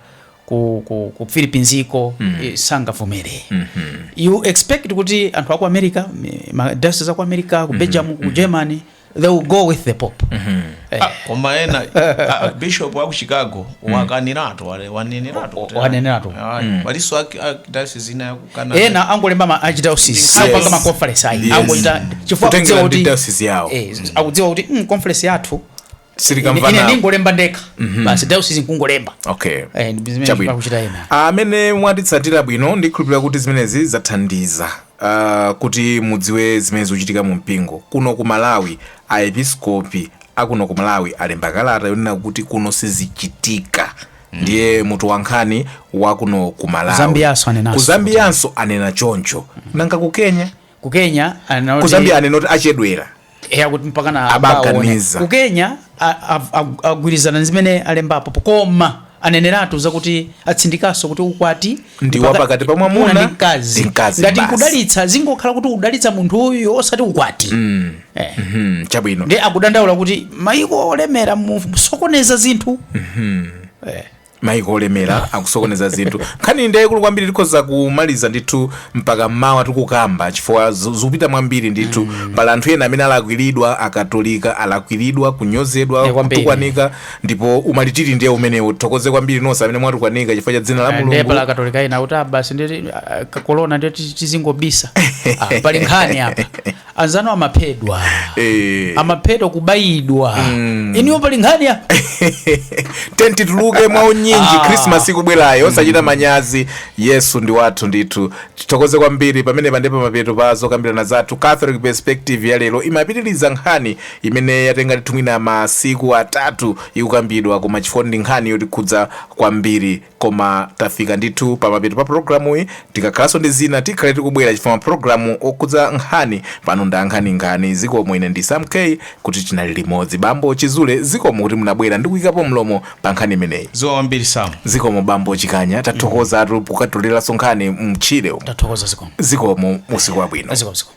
ku, ku, ku philippines iko mm. eh, sangavomere mm -hmm. you expect kuti anthu aku america mi- ma diocese aku america ku belgium ku germany they will go with the pope mm -hmm. eh, Ah, koma ena ah, bishop wa ku chicago wakaniratu wane- waneneratu kuti- Waneneratu. Ah, palinso ak- ak- diocese ina ya ku Kana- ena angolemba ma archdiocese Yes. apanga ma conference ayi Yes. angochita chifukwa Kutengera akudziwa ndi kuti diocese yawo. eh, akudziwa kuti mm, conference yathu ine- ine sitikamvana ndingolemba ndekha basi diocese nkungolemba okay Eh, ndi zimene Chabwino. akuchita ena amene mwatitsatira bwino ndikhulupirira kuti zimenezi zathandiza uh, kuti mudziwe zimene zikuchitika mu mpingo kuno ku malawi aepiskopi akuno ku malawi alemba kalata yonena kuti kuno sizichitika ndiye mutu wa nkhani wa kuno ku malawi Zambianso anenanso. ku zambianso anena choncho nanga ku kenya ku kenya anena kuti- ku zambia anena kuti achedwera eya kuti mpaka na Abaganiza. abaone. ku kenya a- a- a- agwirizana ndi zimene alembapo koma aneneratu zakuti atsindikanso kuti ukwati ndi Mpaka- wapakati pa mwamuna ndi mkazi ndi mkazi ngati basi. kudalitsa zingokhala kuti kudalitsa munthuyo osati ukwati eh. Mhm, chabwino ndi akudandaula kuti maiko olemera musokoneza zinthu maiko olemera akusokoneza zinthu nkhaniyi ndi yayikulu kwambiri tikhoza kumaliza ndithu mpaka mmawa tikukamba chifukwa zu- zikupita mwambiri ndithu pali anthu ena amene alakwiridwa akatolika alakwiridwa kunyozedwa Eh, kwambiri. kutukwanika ndipo umalitiri ndiye umenewu tithokoze kwambiri nonse amene mwatukwanika chifukwa cha dzina la ndiye mulungu pali akatolika ena kuti basi ndi kakolona ndiye ti- tizingobisa Ah, pali nkhani apa anzanu amaphedwa Eh. amaphedwa kubayidwa enawo pali nkhani apa tiyeni tituluke mwa unyinji Ah. krismas ikubwerayo osachita manyazi yesu ndi wathu ndithu tithokoze kwambiri pamenepa ndi pa mapeto pa zokambirana zathu catholic perspective ya lero timapitiriza nkhani imene yatenga ndithu mwina masiku atatu ikukambidwa koma chifukwa ndi nkhani yotikhudza kwambiri koma tafika ndithu pa mapeto pa programuyi tikakhalanso ndi zina tikhale tikubwera chifukwa mapulogalamu okhudza nkhani pano nda nkhaninkhani zikomo ine ndi sam kuti tinali limodzi bambo chizule zikomo kuti munabwera ndi kuyikapo mlomo pa nkhani imeneyi zikomo kwambiri sam zikomo bambo chikanya tathokozatu pokatoleranso nkhani mtchire tathokoza zikomo zikomo usiku wabwino zikomo zikomo